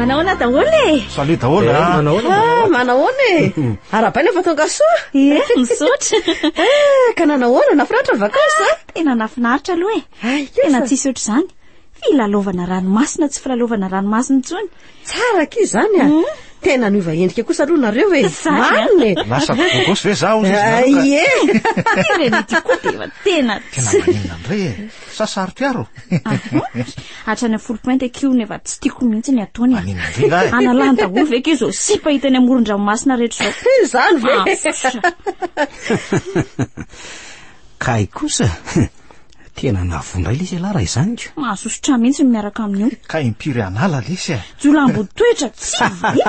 Manahoana daholo e? Salut daholo eh, manahoana? Ah, manahoana e? Arabaina fa tonga soa. Ie, eh, misaotra. Ah, ka nanahoana nafinaritra ny vakansa? Ah, tena nafinaritra aloha e. Ay, tena tsisy ohatr' izany. Filalaovana ranomasina tsy filalaovana ranomasina intsony. Tsara aky izany a. Hmm? tena niova endrika kosa aloha nareo e marina e lasa bogosy ve zaho ie tena tena Sa sarotra aro? Hatrany amin'ny folo pointy aky io nefa tsy tiako mihitsy ny ataony. Any amin'ny vy lahy. Analany daholo ve aky izao sipa hita eny amoron-dranomasina rehetra izao? Izany ve? Kay kosa tena navondra ilay izy ialahy raha izany ko. Mahasosotra ahy mihitsy ny miaraka amin'io. Kay impiry an'ala lesy e. Jolambo toetra tsy vahiny.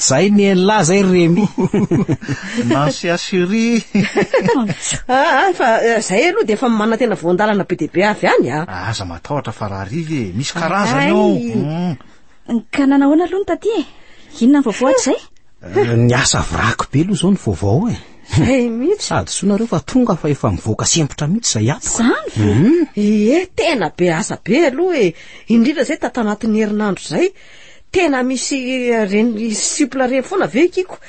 Zay ny Ella zay ry Remy. Nancy Asiri. Ah, ah, fa eh, zay aloha dia efa manantena voandalana be dia be avy any ah. ah. Aza matahotra fa raha riva e, misy karazany ao. Ay. Mm. Ka nanahoana aloha ny taty e? Inona ny vaovao hatrizay? Eh, ny asa vraky be aloha zao ny vaovao e zay mihitsy sady soa nareo fa tonga fa efa mivoaka sempotra mihitsy zay ato zany ve mhm. ee eh, tena be asa be aloha e indrindra zay tata anatin'ny herinandro zay tena misy eh, reny sipla reny foana ve kiko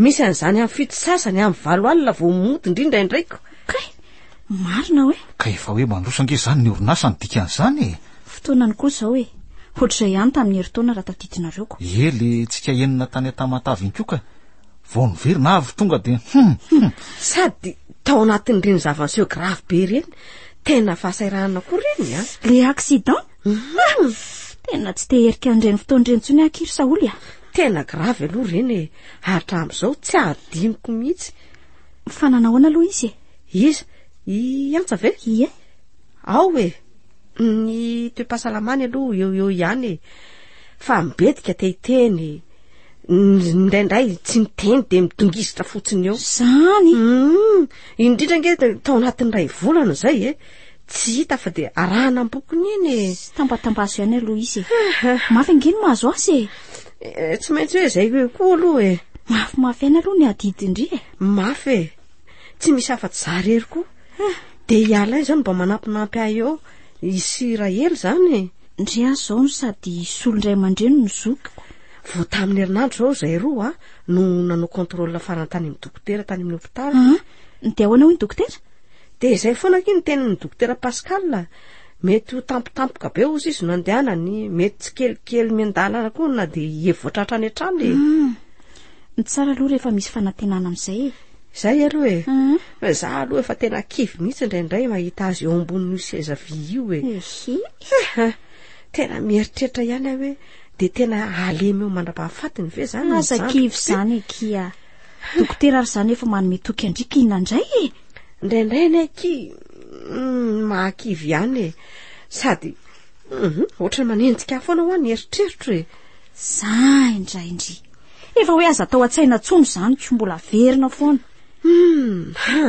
misy an'izany amin'ny fito sasany amin'ny valo alina vao mody indrindra indraiko Marina hoe? Ka efa hoe mandroso ange izany ny orinasa no dikan'izany e! Fotoanany koa izao e! Hoatr'izay ihany tamin'ny herintaona raha tadidinareo ko! Ie le tsika enina tany an-Tamatave iny koa ka! Vao niverina avy tonga dia hum! Hum! Sady tao anatin'ireny zava-niseho grave be ireny, tena fahasahiranana koa ireny an! Le accident? Hum! Tena tsy te hierika an'ireny fotoana ireny intsony aky ry Saholy a! Tena grave aloha ireny e! Hatramin'izao tsy hadinoko mihitsy! Fa nanahoana aloha izy e? Iza? I Antsa ve? Ie. Ao e. Ny toe-pahasalamany aloha eo eo ihany e. Fa mibetika te hiteny. Indraindray tsy miteny dia midongisitra fotsiny eo. Zany? Mm, indrindra nge tao anatin'ny iray volana izay e. Tsy hita fa dia arahana am-bokony iny e. Tambatambazo ihany aloha izy e. Mafy ange ny mahazo azy e. Eh, tsy maintsy hoe izay hoe koa aloha e Mafimafy aina aloha ny adidin-dry e mafy e tsy misy afa-tsy za rery koa ah. de i alain izao no mba manampinampy ahy eo isy rahely izany e ndry an izao no sady solo indray aman-dreny no zokiko vao tamin'ny herinandro izao izay roa a no nanao contrôle farany tany amin'ny dokotera tany amin'ny hopitaly ah. dia ahoana hoy ny dokotera dia izay foana aky ny tenin'ny dokotera pascal Mety ho tampotampoka be ozy izy no andehanany, mety tsy kelikely miandalana koa na dia hihevotra hatrany hatrany e. Hmm. Ny tsara aloha rehefa misy fanantenana amin'izay e. Izay aloha e. Hmm. Fa za aloha efa tena kivy mihitsy indraindray mahita azy eo ambonin'io seza vy io e. Ehe. Eh, tena mieritreritra ihany aho hoe dia tena alemy eo mandra-pahafatiny ve zany? Aza kivy zany e kia. Dokotera ary izany efa manome toky andriaka inandray e Indraindray anie ki mm, mahakivy ihany e Sady mhm, ohatrany manenjika ahy foana hoa ny eritreritro e Za indray indry Efa hoe aza atao an-tsaina intsony izany ko mbola averina foana Hmm, ha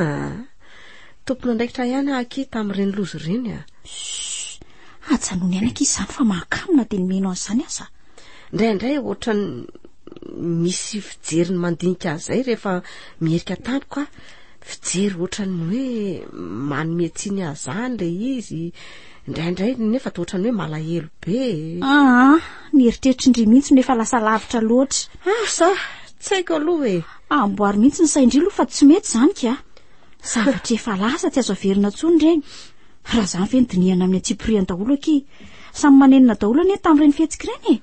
Tompon'andraikitra ihany aho ki tamin'ireny loza ireny a Ajanony aina ki izany fa mahakamo na dia ny mino an'izany aza Indraindray ohatrany misy fijeriny mandinika an'izay rehefa mierika tampoka aho fijery ohatran'ny hoe manome tsiny azany ilay izy indraindray nefa to ohatran'ny hoe malahelo be aa ah, ny eritreritry ndry mihitsy no efa lasa lavitra loatra asa ah, tsy haiko aloha e amboary mihitsy ny saindry aloha fa tsy mety izany ka zavatra efa lasa tsy azo averina tsoa ny reny raha izany ve ny dinihana amin'ny antsipiriany daholo aky samy manenina daholo anie tamin'ireny fihetsika ireny e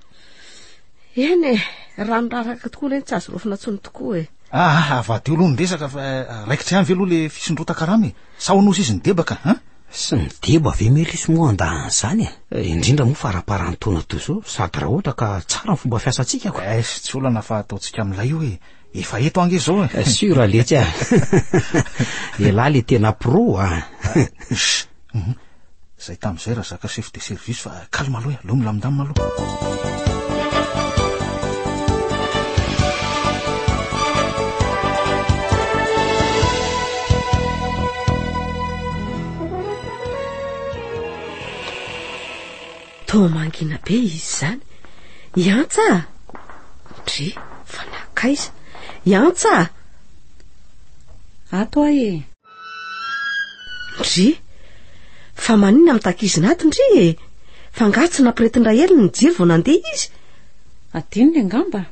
Eny e, raha miraraka tokoa anie tsy azo rofina intsony tokoa e. Ah, avadio aloha ny resaka fa eh, raikitra ihany ve aloha le fisondrotan-karama e? Sa honozy izy ny debaka, ha? Sy ny deba ve Melisy moa andahan'izany e? Eh, indrindra moa faramparan'ny taona toy izao, sady raha ohatra ka tsara ny fomba fiasantsika ko. Es, tsy olana fa ataontsika milay io e. Efa eto ange zao eh. Sûr aletsy ah. Elah le tena pro ah. Mhm. Zay tamin'izay raha zaka chef de service fa calme aloha eh. Aleo milamindamina aloha. Toa mangina be izy izany. I Antsa a! Dry, fa nankaiza? I Antsa a! Ato ahy e! Ndry, fa maninona mitakizina ato ndry e? Fa nga tsy nampiretin-dRaheliny ny jiro vao nandeha izy? Adinony angamba.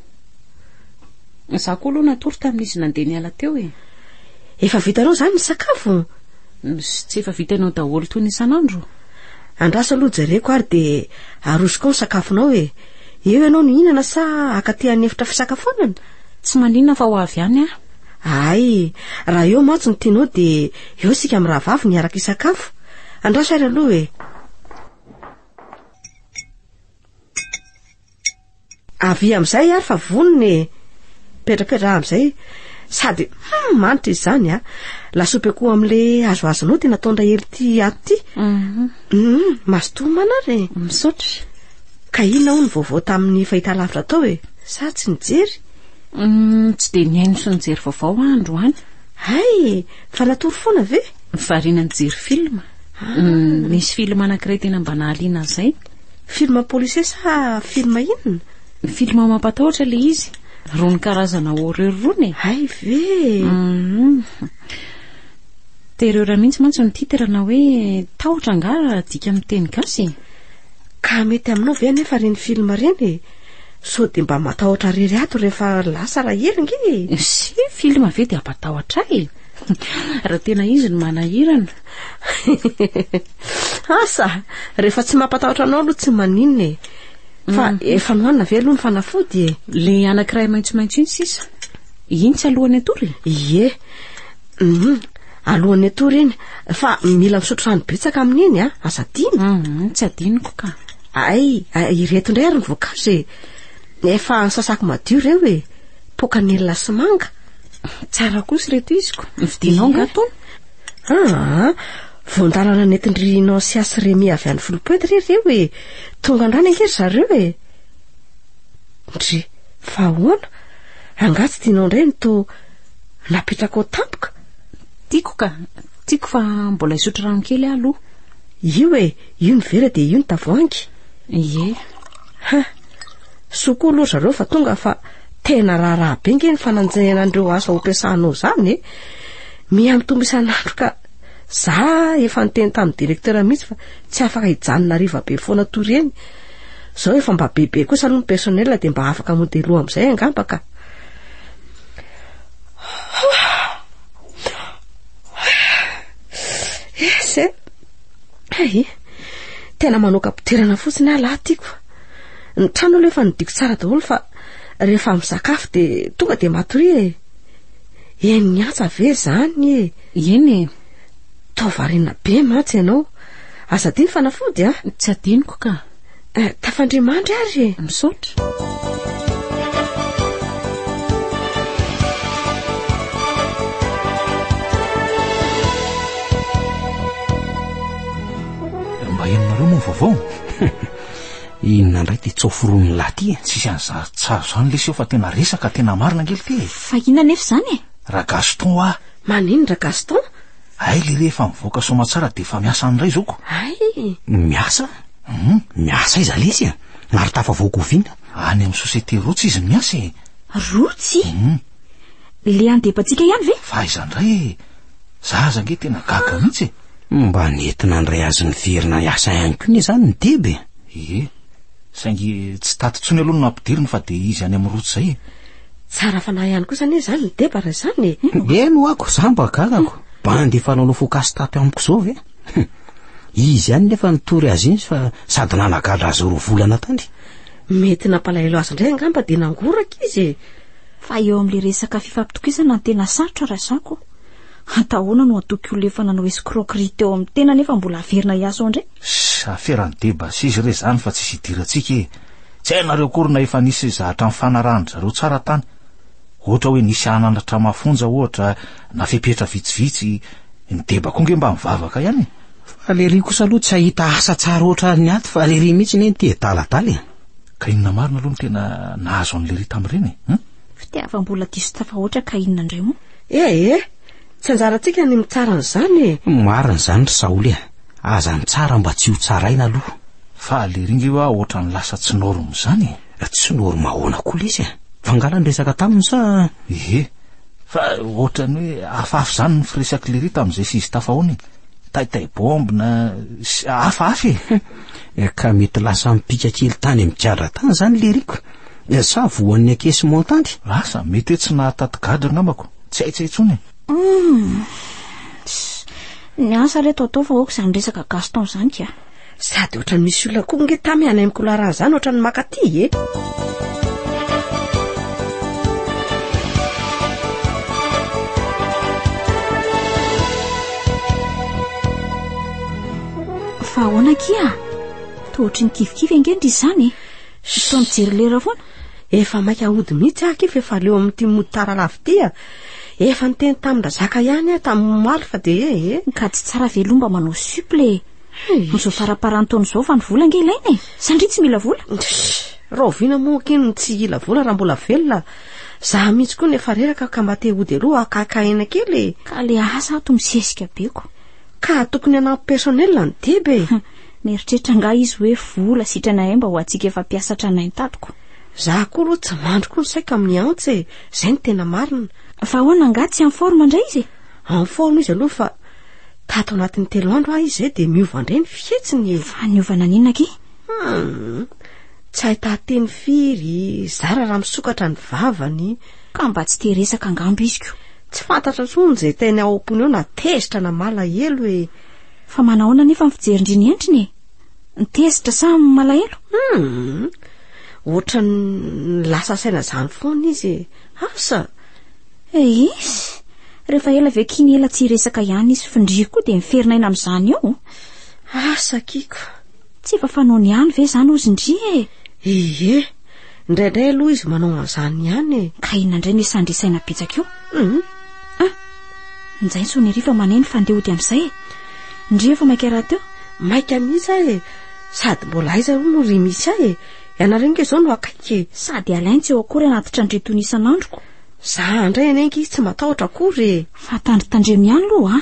Izaho koa aloha natory tamin'izy nandeha niala teo e! Efa vitanao izany ny sakafo? Sy tsy efa vitanao daholo toy ny isan'andro? Andraso aloha jereko ary dia arosoko ao ny sakafonao e. Eo ianao no hihinana sa haka aty amin'ny efitra fisakafoanana? Tsy manina fa ho avy ihany aho. Ay, raha eo mantsy no tianao dia eo isika mirahavavy no hiaraka hisakafo. Andraso ary aloha e. Avia amin'izay ary fa vonona e. Petrapetra amin'izay sady hmm, manitra izy izany a. Lasopy akoho amin'ilay azoazonao dia nataon-dray hely ity ato ity. Mhm. Hmm, mazotoa manara e. Misaotra. Ka inona hono vaovao tamin'ny fahitalavitra tao e? Sa tsy nijery? Hmm, tsy dia nihaino sy nijery vaovao aho androany. Hay, fa natory foana ve? Variana nijery film. Ah. Hmm, nisy film anankiray tena mba nahaliana an'izay. Film policier sa film inona? Film mampatahotra ilay izy. Rony karazana horreur rony e. Hay ve? Mhm. Terreur mihitsy mantsy ny titre na hoe tahotra angaha raha adika amin'ny teny gasy e. Ka mety aminao ve anefa ireny film ireny e? Sao dia mba matahotra rery ato rehefa lasa raha hely nge e. Si film ve dia hampatahotra ahy e. Raha tena izy no manahirana. Asa, rehefa tsy mampatahotra anao aloha tsy maninona e. Fa mm. efa nohanina ve aloha ny fanafody e? Le anankiray maitsomaitso iny sisa. Iny tsy alohan'ny atory? Ie. Mhm. Alohan'ny atory iny. Fa mila misotro rano betsaka amin'iny a, ah. aza adino. Mhm, tsy adinoko ka. Ay, ireto indray ary ny voankazo e. Efa sasako madio ireo e. Pokanelina sy manga. Tsara kosa ireto iziko. Vidinao ngatony? Aa, voan-dalana nentin-dry Nancia sy Remy avy any Foulpointe re ireo e. Tonga an-drano ange ry zareo e. Ndry, fa ahoana? Angaha tsy tianao indray ny toa napetrakao tampoka? Tiako ka, tiako fa mbola hisotro rano kely aho aloha. Io e, io ny vera dia io ny tavoahangy. Ie. Ha, soa koa aloha ry zareo fa tonga fa tena raharaha be ange ny fananjehana an'ireo asa ho ampiasanao izany e. Miha-mitombo isan'andro ka. Za efa niteny tamin'ny directeur mihitsy fa tsy afaka hijanona hariva be foana toy ireny. Zao efa mba bebe kosa aloha ny personnel dia mba afaka modelo amin'izay angamba ka. Yes eh. Hay. Tena manao kapiterana fotsiny aho lahy tiako. Ny trano aloha efa nidiko tsara daholo fa rehefa misakafo dia tonga dia matoria e. Henon'ny antsa ve izany e? Eny e. Toa variana be mantsy ianao. Aza adino fanafody a. Tsy adinoko ka. Eh, tafandria mandry ary e. Misaotra. Mba henonareo moa ny vaovao? Inona indray ty tso foroniny lahy ty e? Tsisy an'izany tsara izany lesy eo fa tena resaka tena marina ange le ty e. Fa inona nefa izany e? Ragaston ah. Maninona Ragaston? Hay le rehefa mivoaka soamatsara dia efa miasa any indray izao ko. Hay. Miasa? Hum, miasa aiza lesy e? Ary tafavoaka oviana? Any amin'ny société Roots izy no miasa e. Roots? Hum. Le any Depatsika ihany ve? Fa aiza indray e? Za aza nge tena gaga mihitsy e. Mba nety nandray azy niverina hiasa ihany koa anie izany ny Deba e. Ie, saingy tsy tato intsony aloha no nampidiriny fa dia izy any amin'ny route izay e. Tsara fanahy ihany kosa anie izany ny Deba raha izany e. Eny hoako, za mba gagako. Bandy efa nanao focus tato amiko izao ve? Izy ihany nefa nitory azy iny fa sady nanagadra azy roa volana tany. Mety nampalahelo azy indray angamba dia nangoraka izy e. Fa eo amin'ilay resaka fifampitokisana no tena sarotra Razako a! Atao ahoana no hatoky olona efa nanao escroquerie teo amin'ny tena nefa mbola haverina hiasa ao indray? Ss, aferan'ny deba sisa re izany fa tsisy idirantsika e! Tsy hainareo akory na efa nisy zahatra nifanarahan-dry zareo tsara tany? Ohatra hoe nisy hananatra mafonja ohatra na fepetra vitsivitsy, ny deba koa nge mba mivavaka ihany e! Fa lery kosa aloha tsy hahita asa tsara ohatran'ny aty fa lery mihitsy anie tia adaladala e! Ka inona marina aloha no tena nahazo an'ilay Rita amin'ireny e? Hum? Fitiavam-bola diso tafahoatra ka inona indray moa? Eh eh, tsy anjarantsika ny mitsara an'izany e! Marina izany ry Saoly e, aza ny tsara mba tsy ho tsaraina aloha. Fa lery inge hoa ohatran'ny lasa tsy norme izany e! Tsy norme ahoana koa lesy e? Fangala ny resaka taminy sa? Ehe, fa ohatran'ny hoe hafahafa izany ny firesak'i Lery tamin'izay sy izy tafahoana e. Taitaibomby na sy hafahafa e! Eh, ka mety lasa mipika kely tany amin'ny gadra tany izany Leriko? Eh, sa voan'ny akesy montany? Asa, mety hoe tsy nahataty gadra angambako. Tsy haitsy intsony e. Hmm. Ny asa re tao tao fa aoka izany resaka Gaston izany ka. Sady ohatran'ny misy olona koa nge tamy any amin'ny couloir izany ohatran'ny makaty e. Fa ahoana akia ah? Toa ohatry ny kivikivy ange ndry izany e. Toa mijery lera foana. Efa maika hody mihitsy aho akia fa efa leo amin'ity mody tara lavo ity ah. Efa niteny tamin-drazaka ihany aho tamin'ny maly fa dia eh, eh. Ka tsy tsara ve aloha mba manao suple e. Amin'izao faraparan'ny taona izao vanivola ange ilaina e. Sa ndry tsy mila vola? Rahoviana moa akia no tsy hila vola raha mbola velona? Za mihitsy koa no efa reraka ka mba te hody aloha haka aina kely e. Ka le asa ato misesika be ko. Ka tokony hanampy personnel ny deba e! Mieritreritra angaha izy hoe vola sitranahay mba ho antsika efa mpiasa tranainy tato ko! Za koa aloha tsy mandry koa ny saiko amin'ny antsy e! Zay no tena marina! Fa ahoana angaha tsy en forme indray izy e? En forme izy aloha fa tato anatin'ny telo andro ahy izay dia miova indray ny fihetsiny e! Fa niova naninona akia? Hum! Tsy hahitaha teny firy, zara raha misokatra ny vavany. Ka mba tsy te resaka angamba izy ko. Tsy fantatra tsony zay teny ao ampony ao na tezitra na malahelo e! Fa manahoana nefa ny fijerin-dry ny endriny e? Ny tezitra sa ny malahelo? Hum! Ohatran'ny lasa saina zany foana izy e! Asa! Eehh! Rehefa ela ve k'iny ela tsy hiresaka ihany izy f'ndry koa dia miferinaina amin'izany eo? Asa kiko! Tsy efa fanaony ihany ve izany ozy ndry e? Ie! Indraindray aloha izy manao an'izany ihany e. Ka inona indray no hisandry saina betsaka eo? Hum. Ah, njainy Sonery fa maneno fa ndeha hody amin'izay e. Ndry efa maika raha teo? Maika mihitsy aho e. Sady mbola aiza aloha no ry misy ahy e. Ianareo nge izao no akaiky e. Sady alainy tsy eo akory anaty trandreto ny isan'androko. Za indray anie nge izy tsy matahotra akory e. Fa tandritandremo ihany aloha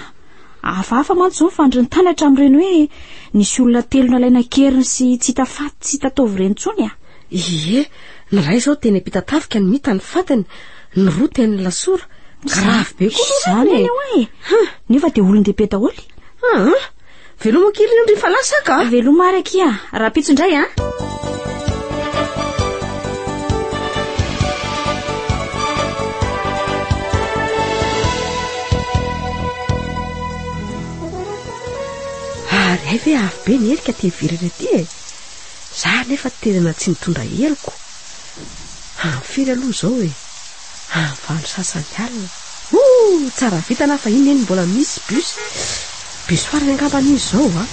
a. Hafahafa mantsy izao ny fandrin'ny tany hatramin'ireny hoe nisy olona telo nalaina an-keriny sy tsy hita faty tsy hita taovy ireny intsony a. Ie, ny iray izao teny am-pitatafika no hita ny fatiny, ny roa teny lasora. Grave be koa izany e. Nefa dia olon-dehibe daholo. Aa, veloma kely ny andrin'ny fanahy saka. Veloma ary akia, rahampitso indray a. Ary hay ve avy be ny herika aty ivelany aty e. Za anefa tena tsy nitondra heloko. Any firy aloha zao e? Any valo sasany alina. Ooh! Tsara vitana fa iny neny mbola misy bus. Bus farany angamba iny zao a.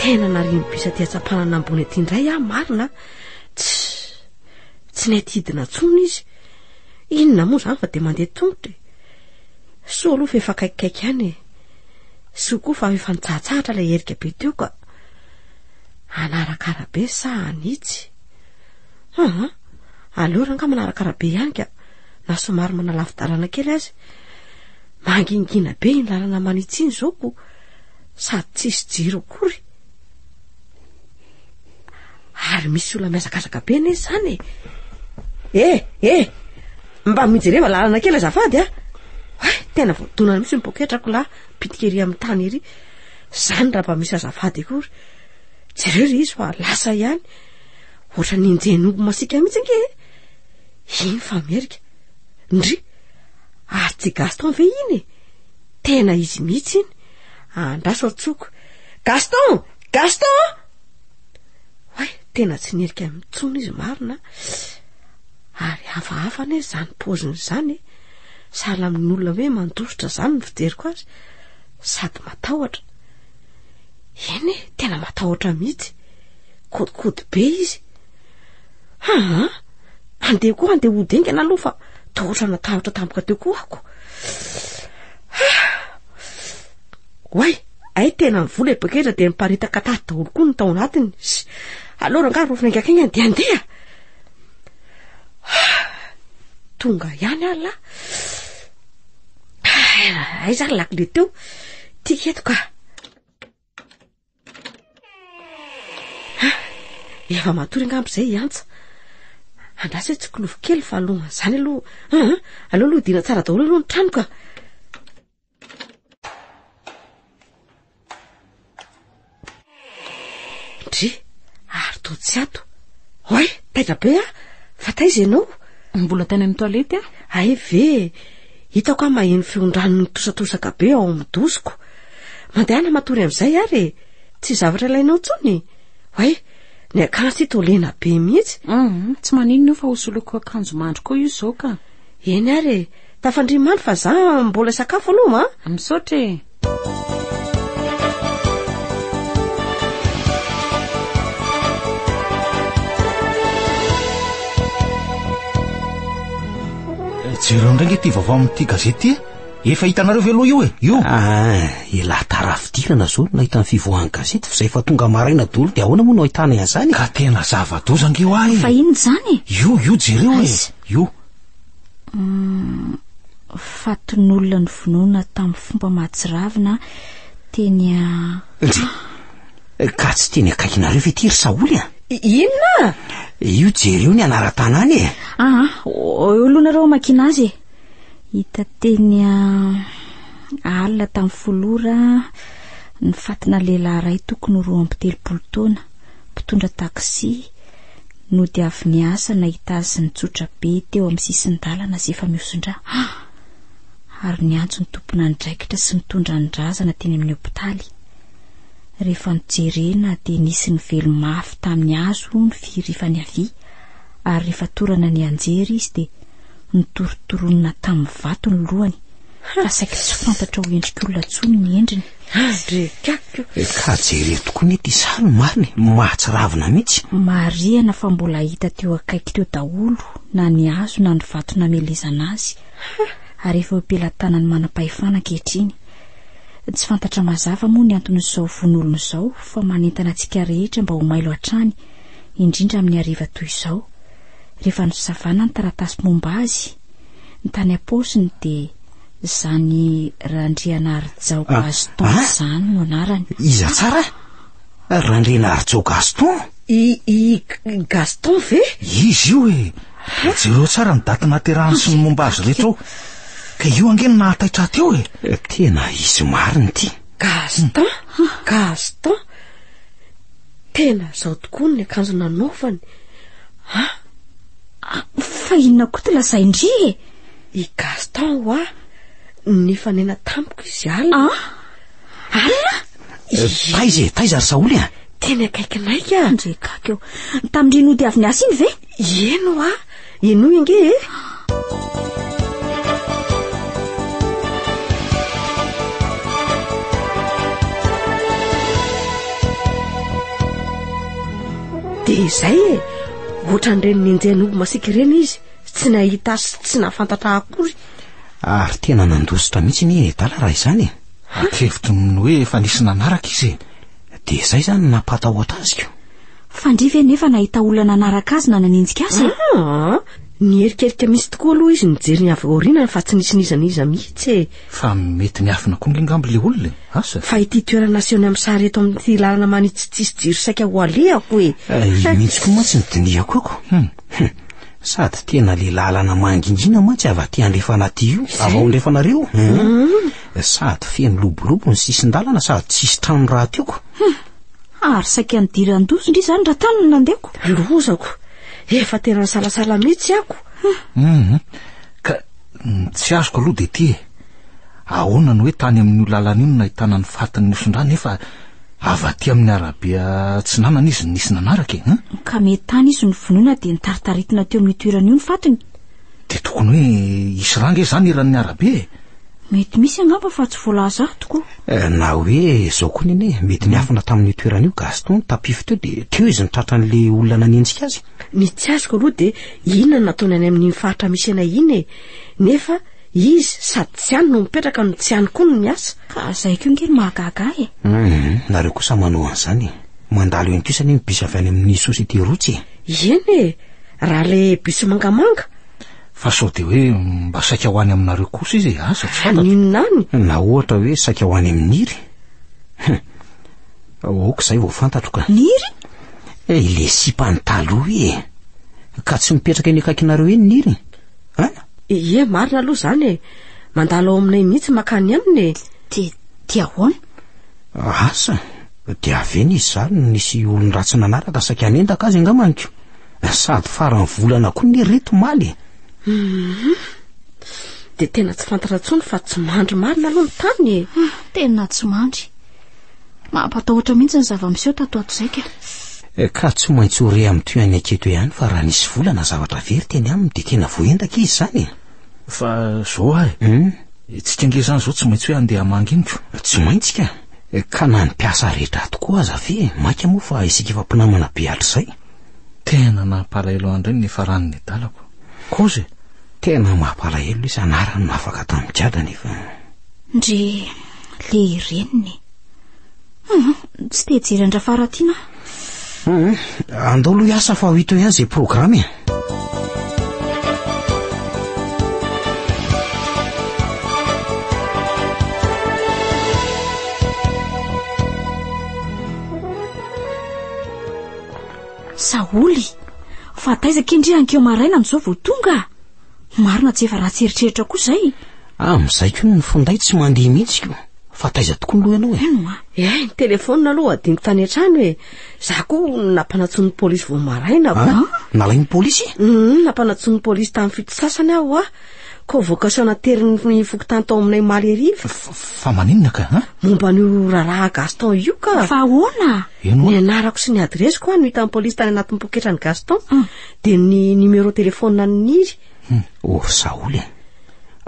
Tena narian'ny bus aty Antsampanana ambony aty indray aho marina a. Tss! Tsy nety hidina intsony izy. Inona moa izany fa dia mandeha tongotra e. Soa aloha fa efa akaikikaiky ihany e. Soa koa fa efa nitsahatsahatra ilay herika be teo ka. Hanaraka arabe sa hanitsy? Aha, aleo raha angaha manaraka arabe ihany ka, na somary manalavi-dalana kely aza. Mangingina be iny lalana manitsy iny izao koa, sady tsisy jiro akory. Ary misy olona mihazakazaka be anie izany e. Eh, eh, mba mijereva lalana kely azafady a. Hay, tena voadonana mihitsy ny poketrako lahy, pitika ery amin'ny tany ery. Izany raha mba misy azafady akory. Jereo ilay izy fa lasa ihany. Ohatra ny injenombo masika mihitsy ange e. Iny fa merika. Ndry, ary tsy Gaston ve iny e? Tena izy mihitsy iny. Andraso atsoko. Gaston! Gaston a! Oay, tena tsy nirika ahy intsony izy marina a! Ary hafahafa anie izany paoziny izany e! Sahala amin'olona hoe mandositra izany ny fijeriko azy, sady matahotra. Eny e, tena matahotra mihitsy. Kodikody be izy. Haa! Andeha koa andeha ho dingana aloha fa toa ohatrana tahotra tampoka teo koa ako. Oay! Ay tena ny vola e poketra dia niparitaka tato daholo koa ny tao anatiny sy aleo rangahy rofina engakenga dia andeha tonga ihany ary lahy ay zany lakile teo tika eto ka efa matory angambo izay hiantsa andrasa hoe tsy kilovo kely fa alohan'izany aloha aleo aloha dina tsara daholo aloha ny tranoka Dry, ary to tsy ato. Hoy, taitra be a, fa taiza ianao? Mbola tany amin'ny toalety a. Ay ve, hitako aho maheno feondrano nitosatosaka be ao amin'ny dosiko. Mandehana matory amin'izay ary e. Tsy zavatra ilainao intsony. Hoy, ny akanjo ty to lena be mihitsy. Mhm, tsy maninona io fa hosoloiko akanjo mandry koa io izao ka. Eny ary e. Tafandry maly fa za mbola hisakafo aloha ma. Misaotra e. Jereo indray nge ty vaovao amin'ity gazety ty e. Efa hitanareo ve aloha io e? Io. Ah, elah tara fidirana zao no nahita ny fivoahan'ny gazety fa zay efa tonga maraina dolo dia ahoana moa no ahitana an'izany? Ka tena zava-doza nge ho ahy. Fa inona izany? Io, io jereo e. Aiza? Io. mm, fatinolona ny vonoina tamin'ny fomba mahatsiravina teny a eh, ka tsy teny akaikinareo ve ty ry saoly a inona io jereo ny anaran-tanàna e aa ah, ah, eo loanareo amakina azy e hita teny a alina tamin'ny folora ny fatina lehilahy ray tokony roa amby telopolo taona mpitondra taksi no dia avy niasa nahita azy nitsotra be teo amin'ny sisin-dalana sy efa mihosin-dra ary niantso ny tompon'andraikitra sy mitondra ny razana teny amin'ny hopitaly. Rehefa nojerena dia nisy ny velo mafy tamin'ny hazo ny fihirifany havia ary rehefa torana ny anjery izy dia Notorotoronina tamin'ny vato ny lohany fa saiky tsy fantatra ho endrik'olona tsony ny endriny. Andrekako! Eh, ka jereo tokoa mety izaho no marina, e. mahatsiravina mihitsy. Marihana fa mbola hita teo akaiky teo daholo na ny hazo na ny vato namelezana azy, ary efa eo am-pelatanan'ny manam-pahefana ankehitriny. Tsy fantatra mazava moa ny anton'izao vonolona izao fa manentana antsika rehetra mba ho mailo hatrany, indrindra amin'ny hariva toy izao. rehefa nosavana ny taratasy momba azy ny tany am-paosiny dia izany Randrianarijao ah, Gaston ah? izany no anarany. Iza tsara? Randrianarijao Gaston? I, i Gaston ve? Izy io e. Ah? Jereo tsara ny daty naterahany sy ny momba azy rehetra ao. Ka io ange no nahataitra aty eo e. Eh, tena izy marina ity. Gaston? Gaston? Tena izao tokoa ny akanjo nanaovany. Ah, ah fa inona koa ty lazain-dry e? I Gaston hoa nifanena tamiko izy alina. Ah, alina? Eh, taiza e, taiza ry Saoly a? Teny akaikinay ka. Ndrekaka eo. Tamin-dry nody avy niasa iny ve? Ieno ah. Henoy ange e! Dia izay e! Ohatran'ireny nenjehin'omby masiaka ireny izy, tsy nahita sy tsy nahafantatra akory. Ary tena nandositra mihitsy anie i Adala raha izany e. Atrevitro ny mino hoe efa nisy nanaraka izy e. Dia izay izany no nampahatahotra azy ko. Fandria ve nefa nahita olona nanaraka azy na nanenjika azy e? Ah, niherikerika mihitsy tokoa aloha izy nijery ny avy aorianany fa tsy nisy n'iza n'iza mihitsy e. Fa mety niafina konga angamba ilay olona e. Asa? Fa ity toerana asehony amin'ny sary eto amin'ity lalana manitsy tsisy jiro saika ho alehako e. Eh, io mihitsy koa mantsy ny dinihako ako. Hmm. Hmm. Sady tena le lalana mangingina mantsy avy aty andrefana aty io. Avy ao andrefanareo. Hmm. Sady feno lobolobo ny sisin-dalana sady tsisy trano raha tiako. Hum, ary saika nidiran-doza ndry izany raha tany no nandehako. Lozako. Efa tena nisalasala mihitsy ako. Hum, ka ny tsy azoko aloha dia ity e. Ahoana no hoe tany amin'io lalana io no nahitana ny fatin'ny osin-dra nefa avy aty amin'ny arabe atsinanana izy no nisy nanaraka e. Hum? Ka mety tany izy no vonoina dia nitaritaritina teo amin'io toerana io ny fatiny. Dia tokony hoe hisy rà nge izany eran'ny arabe e? Mety misy angamba fa tsy voalaza ahy tokoa. Eh, na hoe izao koa nene, mety niafina tamin'io toerana io Gaston tapify teo dia teo izy nitratra an'ilay olona nanenjika azy. Ny tsy azoko aloha dia inona no nataony any amin'iny faritra misy anay iny e. Nefa izy sady tsy any no mipetraka no tsy any koa no miasa. Ka izay koa nge no mahagaga ahy e. Hum, nareo kosa manao an'izany e. Mandalo eny kosa anie ny bus avy any amin'ny société route e. Ieny e! Raha le bus mangamanga? Fa sao de hoe mba saika ho any aminareo kosa izy e? Asa, tsy fantatro. Haninona any? Na ohatra hoe saika ho any amin'iry? Hum. Ok, izay vao fantatro ka. Niry? Eh, ilay sipany taloha e! Ka tsy mipetraka eny akaikinareo eny Niry? An? Ie, marina aloha izany e! Mandalo ao aminay mihitsy makany aminy e! Dia, dia ahoana? Asa, Nodiaviny izy izany no nisy olon-dratsy nanaraka saika hanendaka azy angambany ko. Sady faran'ny volana koa ny ry omaly e. Mhm. Dia tena tsy fantatra intsony fa tsy mandry marina aloha ny tany e. Hmm, tena tsy mandry. Mampatahotra mihitsy ny zava-miseho tato ato izay ka. Eh, ka tsy maintsy ho re amin'ny tohan'ny aketo ihany fa raha nisy volana zavatra very teny aminy dia tena voaendaka izy izany e. Fa zao ary. Hmm? Itsika nge izany izao tsy maintsy hoe handeha hamangy iniko. Tsy maintsy ka. Ka na ny mpiasa rehetra ato koa aza ve maika moa fa isika efa mpinamana be hatrizay. Tena nampalahelo andry ny farany ny dalako. Kozy e! Tena mampalahelo lesy anarany nafaka tamin'i Jada nefa. Ndry le reniny e! Humm tsy te hijery an-dRafaratiana aho. Andao aloha hiasa fa ho hita eo ihany izay programa e. Saholy, fa taiza kendry ankeo maraina amin'izao vao tonga? Marina tsy efa ratsy eritreritra koa zay. Amin'izay koa ny finday tsy mandeha mihitsy ko. Fa taiza tokoa ny loha ianao e? Eno a. Eh, ny telefaonina aloha adinoko tany an-trano e. Za koa nampanantsoin'ny polisy vao maraina ko. Ah, nalain'ny polisy? Hum, nampanantsoin'ny polisy tamin'ny fito sasany aho a. Convocation naterin'ny fokontany tao aminay omaly hariva. Fa maninona ka? Ah? Momba an'io raharaha Gaston io ka. Fa ahoana? Eno. Ny anarako sy ny adiresiko a no hitan'ny polisy tany anatin'ny poketrany Gaston. Ah. De ny numéro téléphone an'i Niry? Hmm, or Saoly e. Eh.